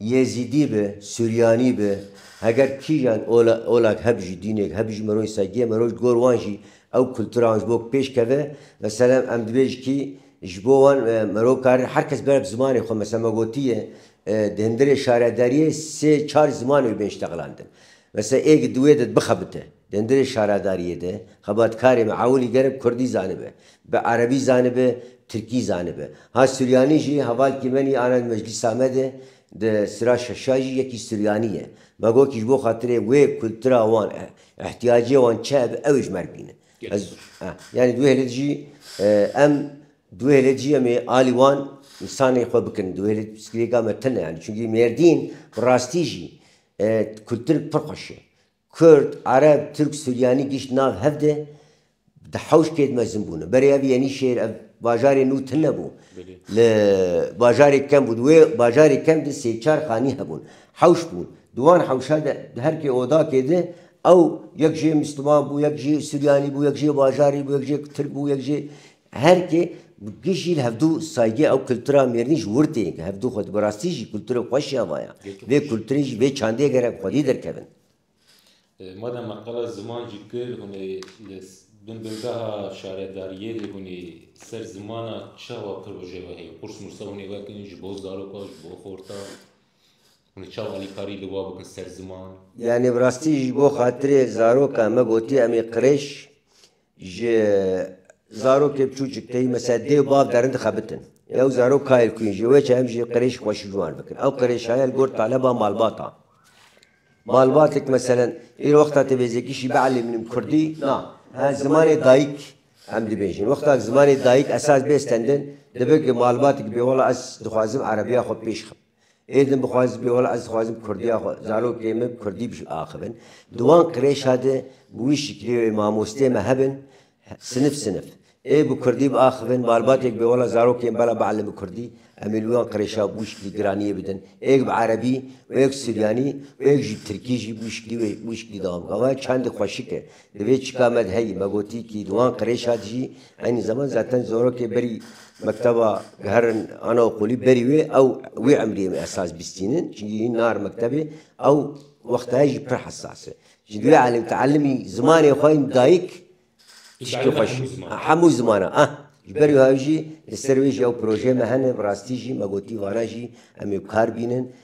Yêzîdî be, suryanî be heger kîjan olak heb jî dînek heb jî mirovê sergiye mirov ji gor wan jî ew kultura wan ji bo pêş keve meselem em dibê ji kî ji bo wan mirov kari her kes bera bi zimanê xwe meselem me gotiye di hindirê şaredariyê sê çar ziman wê bên ji te xilandin. Mesela ê gi duwê de bixebite dendirê şaradariyê de, xebatkarê me ewilî gerek kurdî zanibe, bi erebî zanibe, tirkî zanibe. Ha suryanî jî hevalkî me nî ana di meclîsa me de di sira şeşa jî yekî suryanî ye. Me got kî ji bo xatirê wê kultura wan e, îhtiyacê wan çi hebe ew ê ji mer bîne. Ez yanî di wê hêlê de jî em di wê hêlê de jî em ê alî wan însanê xwe bikin. Di wê hêlê de pirsgirêka me tune ye. Yanî çunkî Mêrdîn bi rastî jî Kurd-Tirk pir xweş e. Kurd, Ereb, Tirk, Suryanî gişt nav hev de di hewş kêd mezin bûne. Berê ev Yenîşehîr ev bajarê nû tune bû. Li bajarê kem bû. Di wê bajarê kem de sê çar xanî hebûn. Hewş bûn. Di wan hewşa de di her kê odakê de ew yek jê Mistiman bû, yek jê Suryanî bû, yek jê bajarî bû, yek jê Tirk bû, yek jê Herikê bi kî jî li hevdû saygê ew kultura mêrnî ji wir tê ke hevdû xwe di bi rastî jî kulturê xwe şiya vaya. Vê kulturê jî vê çandiyê gerek xwedî derkevin. Madema qala ziman jî kir hûnê li bin bingeha şaredariyê de hûnê ser zimana çawa proje ve heye? Qurs mursa hûnê vekin ji bo zaroka, ji bo xorta? Hûnê çawa alîkarî li wa bikin ser ziman? Yanî bi rastî jî bo xatirê zaroka me gotiye em ê qirêj Ji zarokê bçûçik tê me ser dê û bav derin dixebitin. Yew zarok kayêl kû in ji wê çem jî qirêj xweş û ciwan bikin. Ew qirêjxaye li gor taleba malbat a. Malbatêk meselen îro wexta tu vêzekî şî bielîmînim kurdî na, he zimanê dayîk em dibêjin. Wexta zimanê dayîk esas bê stendin, dibe ku malbatêk bê wela ez dixwazim erebîya xwe pêşxim. Ê din bixwazî bibê wela ez dixwazim kurdiya xwe, zarokê min bi kurdî biaxivin. Di wan qirêşa de bi wî şiklê wê mamosteyê me hebin sinif sinif ê bi kurdî biaxivin, malbatê bibê wela zarokê min bela bielin bi kurdî, em ê li wan qirêşa bi wî şiklî giraniyê bidin. Êk bi erebî û êk bi suryanî û êk jî bi tirkî jî bi wî şiklî wê bi wî şiklî dewam bikin. Ava çendî xweşik e. Divê çika me di heyî me gotî kî di wan qirêşa dijî eynî zeman zaten zorokê berî mekteba giherin anaokulî berî wê ew wê emriyê min esas bîstînin çinkî hîn nahir mektebê ew wextaya jî pir hesas e jî divê elîm teelîmî zimanê xwe yên dayik tiştê xweş hemû zimanan ah ji ber wê jî li ser wê jî ew projeyê me hene bi rastî jî me gotî vana jî em ê bi kar bînin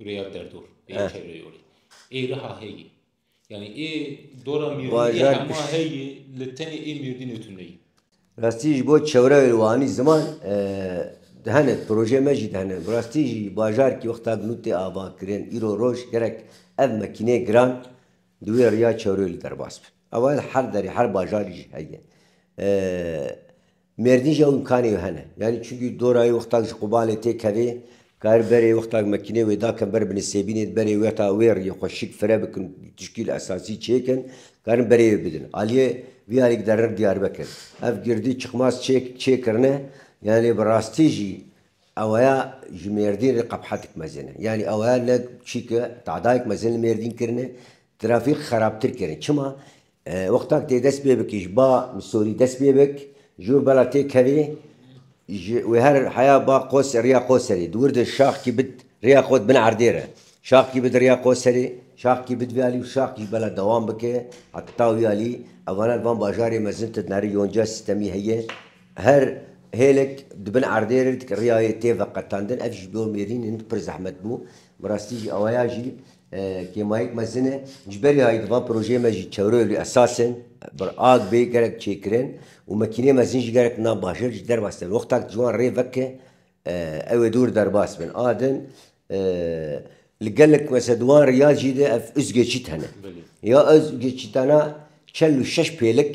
Rêya derdor, rêya Eh. çevreyolê. Ê reha heyê. Yanî ê dora Mîrdînê ê Bajar hema piş- heyê li tenê ê Mîrdînê tu neyê. Rastî ji bo çevreyê wanî ziman e, dihene projeyê me jî dihene. Bi rastî jî bajarkî wexta ku nû tê avakirin îro roj gerek ev makîneyê giran di wê rêya çevreyolê derbas bin. Ew her derê her bajarî jî heye. E, Mêrdîn jî ew îmkanê wê hene. Yanî çunkî dorayê wextak ji Qobanê tê kevê, kar berê wextak mekînê wê dakin ber bi nisêbînê di berê wê heta wê riyê xwe şik fire bikin û tişkîl esasî çêkin, karin berê wê bidin. Aliyê vî alî giderin Diyarbekir. Ev girdî çiqmas çê çêkirine, yanî bi rastî jî ewaya ji Mêrdîn re qebhetik mezin e. Yanî ewaya ne çîke tadayek mezin li Mêrdîn kirine, trafîk xerabtir kirine. Çima? Wexta ku tê dest pê bikî ji ba misorî dest pê bik, ji wir bela tê kevê ji wê her heya ba qos rêya qoserê di wir de şax kî bid rêya xwe di bin erdê re şax kî bid rêya qoserê şax kî bid vê alî û şax kî ji bela dewam bike heta wî alî evana di van bajarê mezin de di herî yonca sîstemî heye her hêlek di bin erdê re rêyayê tê veqetandin ev ji bo mêrîn hin pir zehmet bû bi rastî jî ewaya jî Kêmayîk mezin e. Ji berî hayî di van projeyê me jî çewreyê li esasên bir ag bê gerek çêkirin û mekîneyê mezin jî gerek na bajêr ji derbas tên. Wexta ku ciwan rê veke ew ê dûr derbas bin. A din li gelek mesela di wan riyacî de ev uzgeçît hene. Ya uzgeçîtana çel û şeş pêlik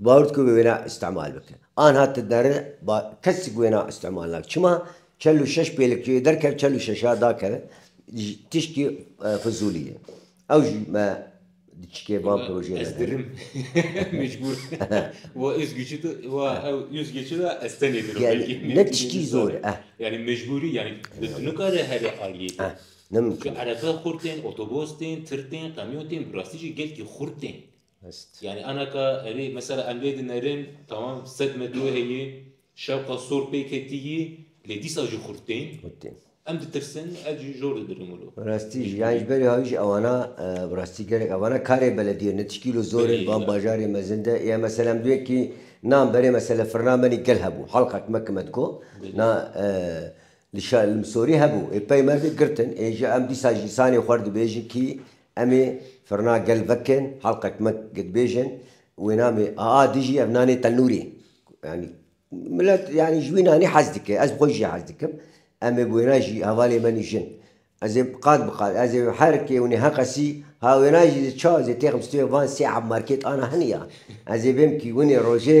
Bawer dike wê wêna îstimal bike. Anha ti dere ba kesik wêna îstimal nake. Çima? Çel û şeş pêlik ji wê derkeve çel û şeşa dakeve ji tişkî fizûlî ye. Ew ji me di çikê van projeyê de dirin. Ne tiştî zor e. Nemimkîn e. Hest. Yanî anaka erê mesela em lê dinerin tamam sed metro heye şewqa sor pê ketiyî lê dîsa jî xurt tên. Xurt tên. Em ditirsin ev jî jor didirin wilo. Bi rastî jî yanî ji berî hawî jî ewana bi rastî gelek ewana karê beledîye ne tişkî wilo zor in van bajarê mezin de ya mesela em duyekî nam berê mesela firna me nî gel hebû halqek me ki me diko na li şa li misorî hebû ê peymer de girtin ê jî em dîsa jî sanê xwe dibêjin kî Em ê firna gel vekên helqek me gidbêjin wêna me aa dijî ev nanê tenûrî yanî milet yanî ji wî nanî hez dike ez bi xwe jî hez dikim em ê bi wêna jî hevalê me nîjin ez ê qat bi qat ez ê her kê hûnê heqesî ha wêna jî di ça ez ê têxim stûyê van sê eb markêt ana hini ya ez ê bêm kî winê rojê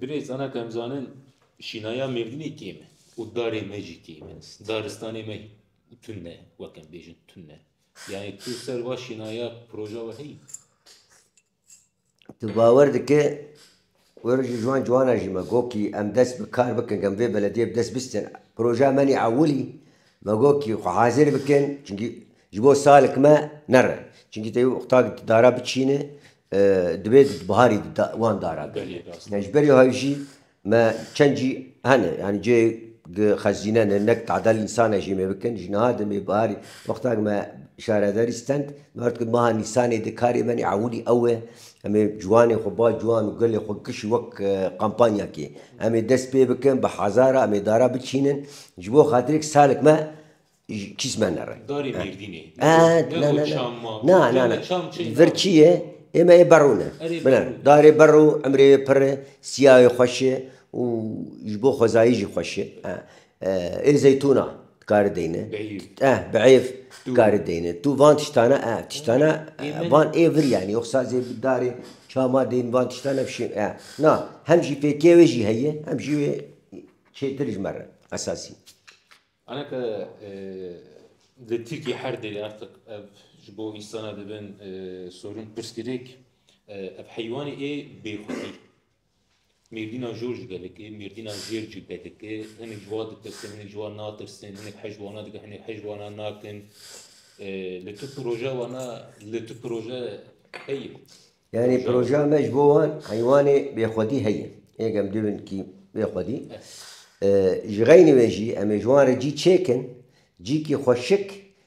Birêz Anak em zanin şînaya Mêrdînê kêm e û darê me jî kêm e. Daristanê me tund e wek em bêjin tund e. Yani tu ser va şînaya proja we heyî? Tu bawer dike were ji wan ciwanan jî me got kî em dest bi kar bikin em vê belediyê bi dest bistên proja me nî ewilî Me got ki xwe hazir bikin çunkî ji bo salek me nerin. Çunkî tevî qutag di dara biçînin divê di biharî wan dara bêne. Ji berî hay jî me çend cî hene yanî cihê xezîne ne ne tadel nîsane jê me bikin. Ji niha demê biharî wexta ku me şaredarî stend me got ku meha nîsanê de karê me nî ewilî ew e Em ê ciwanê xwe ba ciwan û gelê xwe kişî wek kampanyakê. Em ê dest pê bikin bi hezara em ê dara biçînin ji bo xatirêk salek me kîs me nere. Darê Mêrdînê. Ne bo çam ma. Na na na. Vir çi ye? Ê me ê berû ne. Bine. Darê berû emrê wê pir e, siyayê xweş e û ji bo xwezayî jî xweş e. Ê zeytûna kari deyne. Eh bi êv kari deyne. Tu van tiştane eh tiştane van ê vir yanî yox sazê bi darê çama deyn van tiştane bi şê eh na hem jî fêkê wê jî heye hem jî wê çêtir ji me re esasî. Ana ke li Tirkiyê her derê artiq ev ji bo însanan dibin sorûn pirsgirêk ev heywanê ê bêxwedî. Mêrdîna jor ji gelekê, mêrdîna jêr cî vedike. Hinek ji wa ditirsin, hinek ji wa natirsin, hinek hej wana dikin, hinek hej wana nakin. Li tu proje wana, li tu proje heye. Yanî projeya me ji bo wan heywanê bêxwedî heye. Ê gem dê bin kî bêxwedî. Ji xeynî wê jî em ê ji wan re cî çêkin, cî kî xweşik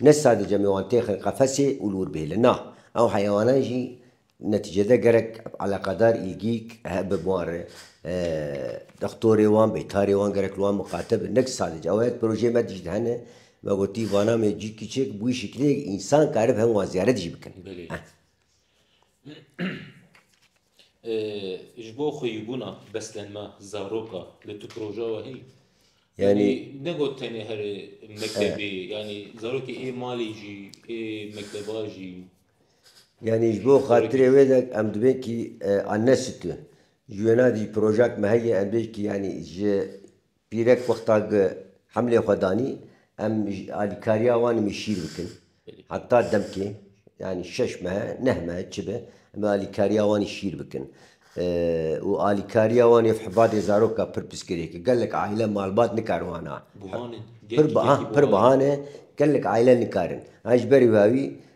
Ne sadece me wan têxin qefesê û li wir bihêlin na, ew heyewanan jî netîcede gerek eleqedar, îlgîk, hebe bi wan re. Dextorê wan, beytarê wan gerek li wan miqate be. Ne ki sadece ew e, projeyên me dijî de hene. Me gotî vana me cî kiçik bi wî şiklê ye ku însan karib hev wan ziyaret jî bikin. Ji bo xweyîbûna beslenma zaroka li tu proja wehî yanî ne got tenê herê mektebê yanî zarokê ê malê jî ê mekteba jî yanî ji bo xatirê wê de em dibên kî an ne situn ji wêna dî projak me heye em bê kî yanî ji Pîrek wexta ku hemlê xwe danî, em alîkariya wan em ê şîr bikin. Heta demkê yanî şeş mehe, neh mehe çi be em ê alîkariya wan î şîr bikin. Û alîkariya wan ev hibadê zarok a pir piskirêk e. Gelek aîle malbat nikar wana. Pir bihan e, gelek aîle nikarin. Ji berî wê wî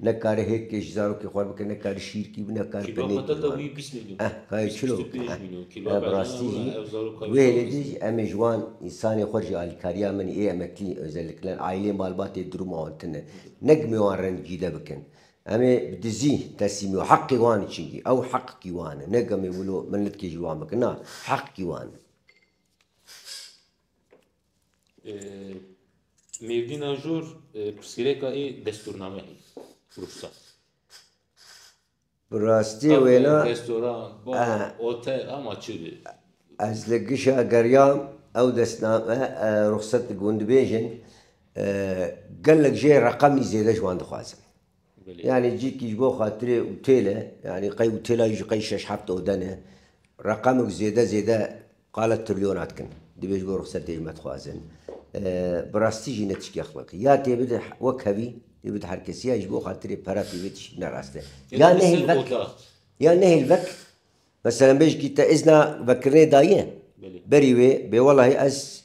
Ne kare hêk kê ji zarokê xwe bike, ne kare şîrkî bi, ne kare penêkî ji wan bike. Eh, kare çilo bike. Eh, bi rastî jî di wê hêlê de jî em ê ji wan însanên xwe ji alîkariya min ê emeklî özellikle aîlê malbatê diruma wan tune. Ne gimê wan re nicîde bikin. Em ê bi dizî tesîmî û heqê wan e çinkî ew heqkî wan e. Ne gemê wilo milletkê jî wan bike. Na, heqkî wan e. Mêrdîna jor pirsgirêka ê destûrname hî rûsta. Bi rastî wêna restoran, bar, hotel ama çi bi. Ez li gişa geriyam ew destname rûxsat digund dibêjin gelek jê reqemî zêde ji wan dixwazin. Yanî cîkî ji bo xatirê utêl e, yanî qey utêla wî ji qey şeş heft oden e. Reqemik zêde zêde qala trilyona dikin. Divê ji bo rixsetê ji me dixwazin. Bi rastî jî ne tişkî exlaqî. Ya tê bide wek hevî, tê bide her kesî ya ji bo xatirê pera tê bide tişkî ne rast e. Ya nehêl vek, ya nehêl vek, meselan bê jikî te îzna vekkirinê daye, berî wê bê welahî ez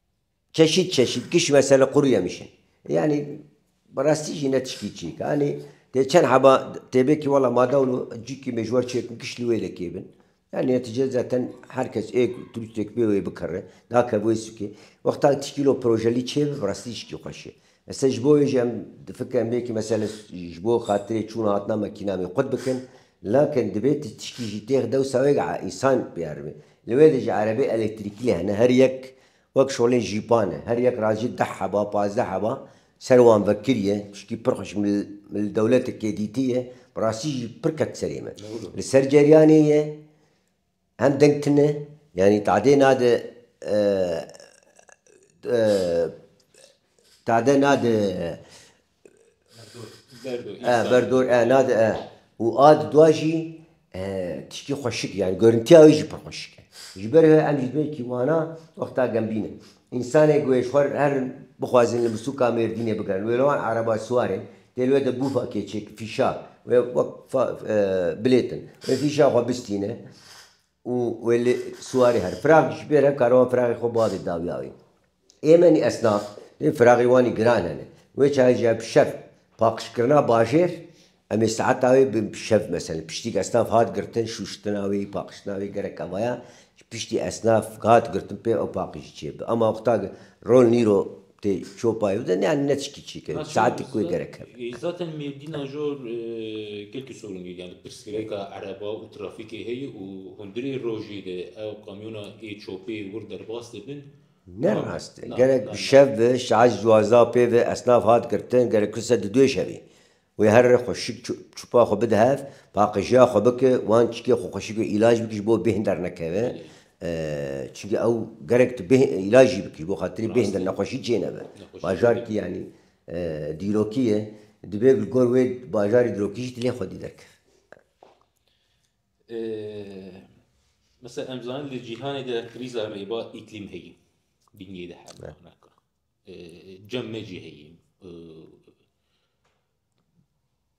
Çeşît çeşît giş mesele qurî yemiş in. Yanî bi rastî jî ne tiştî çîyik e. Yanî dê çend heba tê bê kî wela ma dewlo cîkî me ji wer çêkin giş li wê de kêbin. Yanî netîce zaten her kes ê ku turîstêk bê wê bikere, nake wê sukê. Wexta tiştî lo projelî çêbi bi rastî tiştî xweş e. Ez ser ji bo wê jî em difikirin em bêkî mesele ji bo xatirê çûna hatina me kîna wê qut bikin. Lakin divê tu tişkî jî têx de wisa wek îsan biyar be. Li wê de jî erebê elektrîkî lê hene her yek wek şolên jîpan e. Her yek racî deh heba, pazdeh heba ser wan vekiriye. Tişkî pir xweş min li dewletekê dîtiye. Bi rastî jî pir ket serê min. Li ser ceryanê ye. Hem deng tune, yanî tade nade tade nade berdor e nade e û a di dua jî tiştî xweşik e, yanî gorintîya wî jî pir xweşik e. Ji ber ve em ji duyekî wana wexta gembîn in. Însanê guhêjxwar her bixwazin li Mûsûka Mêrdînê bigirin wê li wan erebaswar e, tê li wê de bûfa kêçek, fîşa, wê wek bilêtin. Wê fîşa xwe bistîne û wê li siwarê here. Firax jî bêr he kare wan firaxê xwe bavê dawiya wê. Ê menî esnaf, lê firaxê wanî giran hene. Wê çayê jî ev şer paqijkirina bajêr Em ê saeta wê bi şev meselin piştî esnaf hat girtin şûştina wê, paqijtina wê gerek ava ya ji piştî esnaf hat girtin pê ew paqijî çê bi ama wexta rol nîro tê çopayê bidin yan ne tişkî çê ke saetik wê gerek hebe. Zaten Mêrdîna jor gelkî sorûn heye yani pirsgirêka ereba û trafîkê heye û hundirê rojê de ew kamyona ê çopê wir derbas dibin. Ne rast e. Gerek bi şev bi saet ji duwazdeh pê ve esnaf hat girtin gerek kirse di duê şevê. Wê herre xwe şik çûpa xwe bide hev, paqijîya xwe bike, wan çîkê xwe xweşik be, îlaj bike ji bo bêhn dernekeve. Çimkî ew gerek tu bêhn îlaj jî bike ji bo xatirê bêhn der nexweşî çênebe. Bajarkî yanî dîrokî ye, divê li gor wê bajarê dîrokî jî tu lê xwedî derkeve. Misal em zanin di cîhanê de krîza rêva îklîm heye. Bingê de hebe. Cem me jî heye.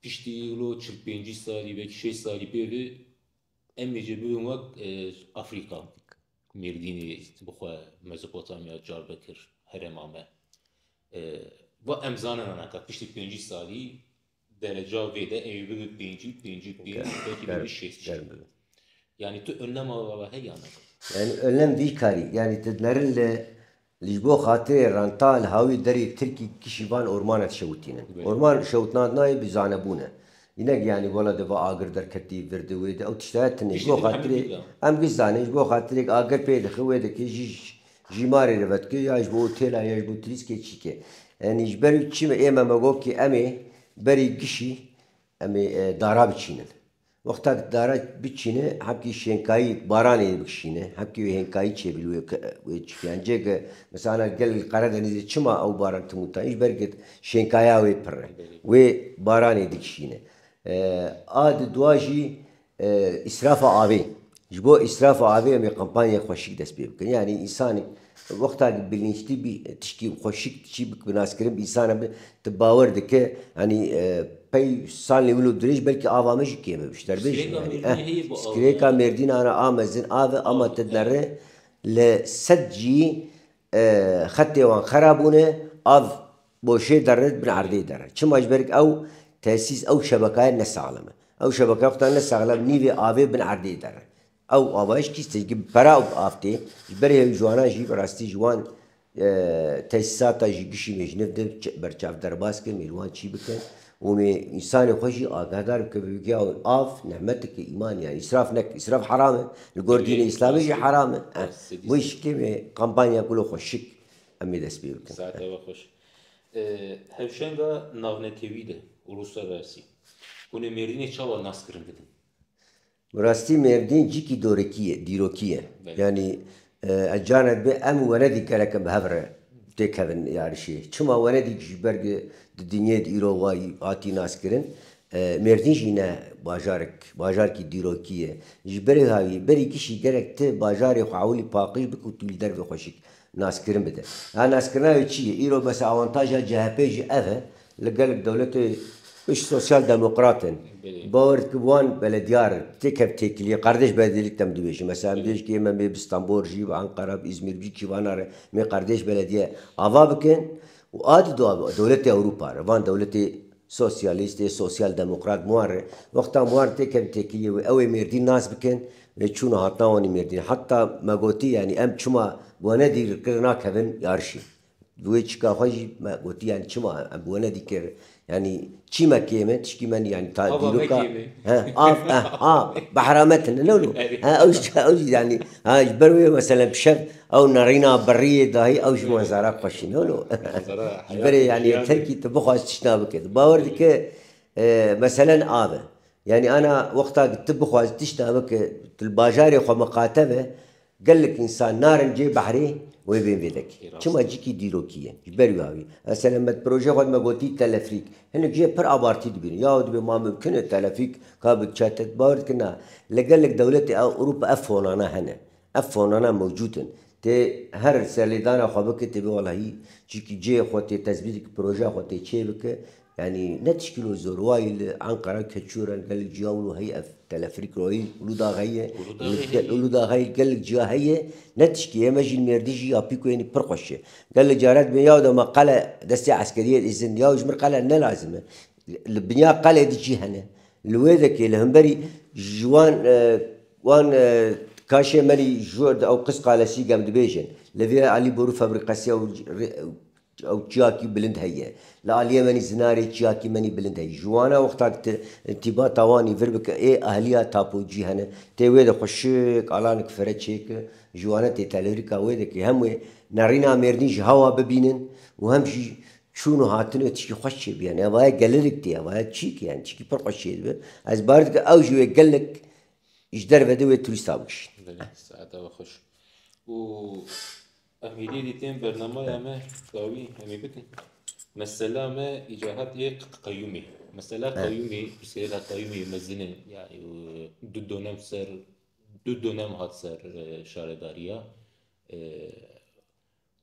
Piştî îro çil pêncî salî belkî şêst salî pê ve em ê jê bibin wek Afrîka. Mêrdînê bi xwe Mezopotamya car bikir herêma me. Va em zanena naka piştî pêncî salî Dereca vê de ê bibe pêncî, pêncî û pênc, belkî Germ, bibe şêst şêst. germ bibe. Yanî tu önlema we ve heye ya ne? Yanî önlem vî karî, yanî tu merin li li ji bo xatirê renta li hawî derê tirkî kişî van ormane dişewitînin. Belê. Orman şewitnan nayê bi zanebûn e. Înek yanî wela di va agir derketî, vir di wê di ew tişt heye tune. Ji Tiştê bo din hemî xatirê, bîr be. em giş zanîn ji bo xatirêk agir pê dixi wê dikê jî Jîmarê li vetkê ya ji bo otêla ya ji bo trîskê çîkê. Yanî ji ber çi me ême me got kî emê berî gişî emê dara biçînin. Wexta ki dara biçîne hemkî şênkayî baranê ê bikişîne, hemkî wê hênkayî çê bî wê çikiyan. Cê ki misala gel li Qeredenîzê çima ew baran tim û tan? Ji ber ku şênkaya wê pirr e. Wê baranê dikişîne. A di dua jî Îsrafa avê, Ji bo îsrafa avê em ê kampanyaya xweşik dest pê bikin. Yanî însanê wexta ku bilînçtî bî tiştî xweşik çi bi bi naskirin bi însan e bi tu bawer dike yanî pey salên wilo dirêj belkî ava me jî kêm e ji te re bêjim yanî eh skrêka mêrdînan a a mezin av e ama te dinare li sed cî Xetê wan xera bûne, av boşê derre dibin erdê derre. Çima ji ber ku ew tesîs, ew şebekaya ne saxlem e. Ew şebekaya xwe ta ne saxlem nîvê avê bin erdê derre. Ew avahiş kî tê ji pera û av tê. Ji ber hêvî ji wana jî bi rastî ji wan tesîsata jî gişî mêjniv di berçav derbas kirin mêrû wan çî bikin. Hûn ê însanên xwe jî agahdar bikin vê bigiya û av nehmeteke îmanê yanî îsraf nekin. Îsraf heram e. Li gor dînê îslamê jî heram e. Bo yîşikê vê kampanya Gula Xwe Şik em ê destpê bikin. Saet ava xweş e. Hevşenga navnetewî de û rûslersî hûn ê mêrdînê çawa naskirin bidin? Bi rastî Mêrdîn cikî dorikî ye, dîrokî ye. Yanî ez canek be em û Wenedîk gereke bi hev re têk kevin li arişê. Çima Wenedîk ji ber ku di dinyayê de îro wa hatî naskirin, Mêrdîn jî ne bajarek, bajarkî dîrokî ye. Ji berê havî, berî kişî gerek ti bajarê xwe ewilî paqij bike û tu li derve xweşik naskirin bide. Naskirina wê çi ye? Îro mesela awantaja CHP'ê jî ev e Li gelek dewletê pişt sosyal demokrat in. Bawer dike wan belediyar tê kevt têkiliyê qerdeş belediyelîk dem dibêjin. Mesela em dibêjin kê me mê bi Stenbol jî, bi Enqera, bi Îzmîr bijî kîvana re mê qerdeş belediye ava bikin û a di do a dewletê Ewropa re van dewletê sosyalîst ê sosyal demokrat bi wan re wexta em wan tê kevin têkiliyê wê ew ê Mêrdîn nas bikin lê çûn û hatina wan ê Mêrdînê heta me gotî yanî em çima bi we ne dîl kirin nakevin yarişî. Bi wê çika xwe jî me gotî yanî çima em bi we ne dîkir yanî çî me kême tişkî me yanî ta dîroka he av eh ha behra me tune ne lo he ew jî ew jî yanî ha ji ber wê meselen pişev ew nerîna berriyê dayî ew ji manzara xweş î ne lo ji berê yanî terkî tu bixwaz tiştna bike tu bawer dike meselen av e yanî ana wexta ku tu bixwaz tiştna bike tu li bajarê xwe miqate be Gelek însan narin cê behrê wê bên vêdekê. Çima cikî dîrokî ye. Ji ber wî awî ez tenê me di projeyê xwe de me gotî telefrîk. Hinek jê pir abartî dibînin. Yaw dibê ma mimkin e telefrîk ka bi diçe te. Tu bawer dikî na. Li gelek dewletê ew Ewropa ev fonane hene. Ev fonane mewcûd in. Tu her serlêdana xwe bikî tu bê welahî cikî cê xwe tê tezbît dikî projeya xwe tê çê bikî Yanî ne tişkîl û zorwayî li Enqera keçû re gelek ciya û heyî ev telefrîk royî Ulûda heyî Ulûda heyî gelek ciya heyî ne tişkî ye me jî mêrdî jî ya pîko yenî pir xweş e. Gelê care dibê ya de ma qele destê eskeriyê îzin ya ji min qele ne lazim e. Li binya qelê de jî hene. Li wê dekê li hemberî ji wan wan kaşê me lî ji ew qis qalesî gem dibêjin. Li vê Elî Borû febrîkesî ew Ew çiyakî bilind heye. Li aliyê menî zinarê çiyakî menî bilind heye. Ji wana wexta ki ti tîba tawanî vir bike ê ehliya tapo cî hene. Tê wê de xwe şik alanik fire çê ki ji wana tê telewrîka wê de ki hem wê nerîna mêrdîn ji hewa bibînin û hem jî çûn û hatin wê tişkî xweş çê bîya. Nevaye gelilik tê evaye çî ki yani tişkî pir xweş çê dibe. Ez bar dikim ew ji wê gelilik ji derve de wê turîsta bikişîn. Belê saeta we xweş û. Em hêdî dîtên bernamaya me dawî em ê bikin. Mesela me îcar hat yê qeyûmê. Mesela qeyûmê, pirsgirêka qeyûmê mezin e. Yani du donem ser du donem hat ser şaredariya.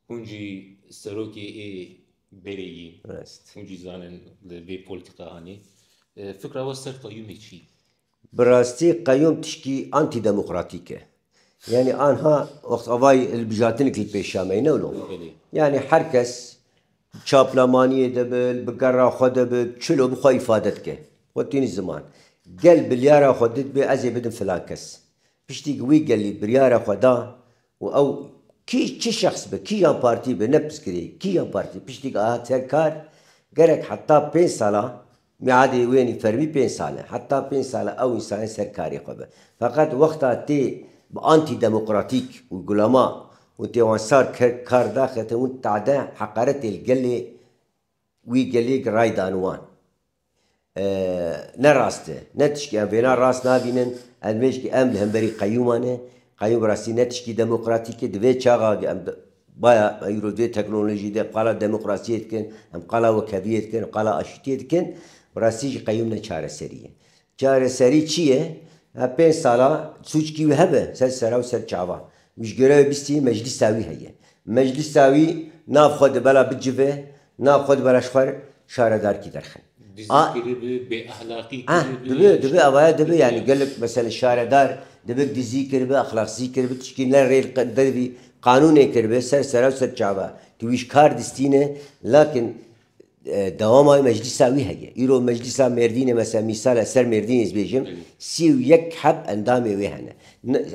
Hûn jî serokê ê berê yîn. Hûn jî zanin li vê politikahanê. Fikra we ser qeyûmê çi? Bi rastî qeyûm tişkî antîdemokratîk e. Yanî anha wext avayî hilbijartinik li pêş ya me ye ne wilo. Yanî her kes bi çaplamaniyê de be, bi gera xwe de be, çilo bi xwe îfade dike. Xwe tînî ziman. Gel biryara xwe didibê ez ê bidim filan kes. Piştî ku wî gelî biryara xwe da û ew kî çi şexs be, kî yan partî be ne piskirê, kî yan partî piştî ku hat ser kar gerek heta pênc sala Miadê wê nî fermî pênc sal e. Heta pênc sal e ew însanê ser karê xwe be. Feqet wexta tê bi antîdemokratîk û gulama û tê wan sar kar da xetin û tade heqaretê li gelê wî gelê giray dan wan. Ne rast e. Ne tişkî em vêna rast nabînin. Ez mêjikî em li hemberî qeyûman e. Qeyûm bi rastî ne tişkî demokratîk e. Di vê çaxa em Baya îro vê teknolojî de qala demokrasiyê dikin, em qala wekheviyê dikin, qala aşîtiyê dikin, bi rastî jî qeyûm ne çareserî ye. Çareserî çi ye? Ev pênc sala sûckî wî hebe ser sera û ser çavan. Wî ji gêrewê bistî meclîsa wî heye. Meclîsa wî nav xwe di bela bicive Na xwe di beraş xwe şaredarkî derxin. Dizî kiribi, bêexlaqî kiribi. Dibi, dibi avaya dibi yanî gelek meselê şaredar dibi dizî kiribi, exlaqsî kiribi tişkî ne rêl dervî qanûnê kiribi ser sera û ser çava tu wî ji kar distîne lakin dewama wî meclîsa wî heye. Îro meclîsa Mêrdînê mesela mîsal e ser Mêrdînê ez bêjim sî û yek heb endamê wê hene.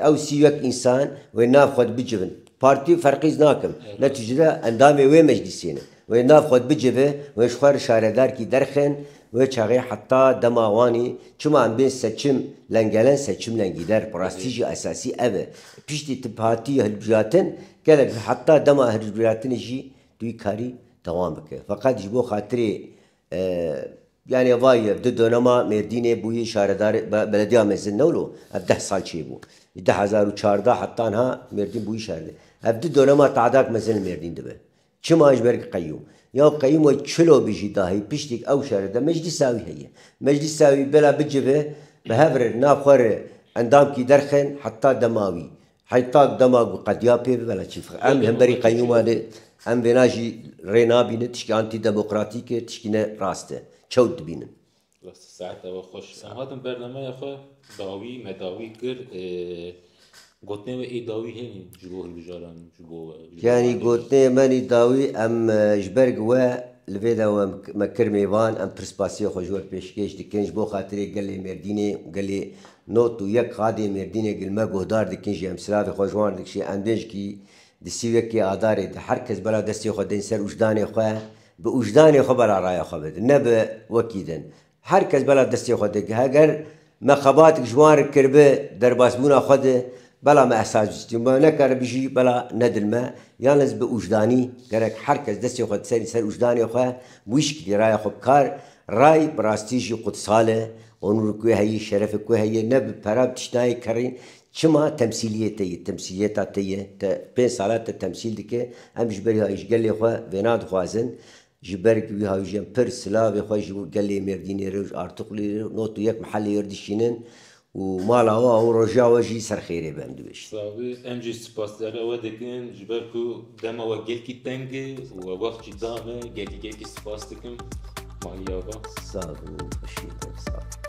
Ew sî û yek însan wê nav xwe di bicivin Partî ferqîz nakim, ne tu jine endamê wê meclîsê ne. Wê nav xwe bicive, wê ji xwe re şaredarkî derxin, wê çaxê heta dema wanî çima em bên seçim lengelen seçim lengîder bi rastî jî esasî ev e. Piştî tu hatî hilbijatin, gelek heta dema hilbijatinê jî tu wî karî dewam bike. Feqet ji bo xatirê Yanê vayî di donema Mêrdînê bûyî şaredar belediya mezin ne wilo ev deh sal çêbû. Ji du hezar û çardeh heta niha Mêrdîn bûyî şaredar. Ev di donema tadak mezin li Mêrdîn dibe. Çima ji ber ku qeyûm. Ya qeyûm wek çilo bijî dahî piştîk ew şare de meclîsa wî heye. Meclîsa wî bila bicive bi hev re navxwe re endamkî derxin heta dema wî. Heta dema ku qediya pê bibe ne çîfix. Em li hemberî qeyûman e. Em vêna jî rê nabînin. Tişkî antîdemokratîk e, tişkî ne rast e. Çewt dibînin. Rast e. Saet ew e xweş. Em hatin bernameya xwe dawî, medawî kir. Gotinên we ê dawî hene ji bo hilbijaran, ji bo we? Yanî gotinên me ê dawî em ji ber ku we li vê de we me kir mêvan, em pirspastiya xwe ji we pêşkêş dikin ji bo xatirê gelê Mêrdînê û gelê Not û yek Qadê Mêrdînê Gilme guhdar dikin jî em silavê xwe ji wan re dikişîn endêjkî di sî û yekê Adarê de her kes bela destê xwe din ser ûjdanê xwe bi ûjdanê xwe bela raya xwe bidin ne bi wekî din her kes bela destê xwe dikin heger me xebatik ji wan re kiribi derbasbûna xwe di Bela me ehsa cîstî me nekare bijî bela ne dil me yan ez bi ujdanî gerek her kes destê xwe diserî ser ujdanê xwe bi wî şikilî raya xwe bikar ray bi rastî jî qudsal e onûr ku heye şerefê ku heye ne bi pera bi tişt nayê kerî çima temsîlîyê te yê temsîlîyeta te yê te pênc sala te temsîl dike em ji berî hayî ji gelê xwe vêna dixwazin Ji ber ku wî hawîjên pir silavê xwe ji gelê Mêrdînê re û ji Artuxlê re û not û yek mehellê re dişînin û mala we û roja we jî ser xêrê be em dibêjin. Savê, em jî sipasdera we dikin ji ber ku dema we gelkî teng e û we wext jî da me. Gelkî gelkî sipas dikim Mahî Ava. Sag bin û xweşî bikin. Sag bin.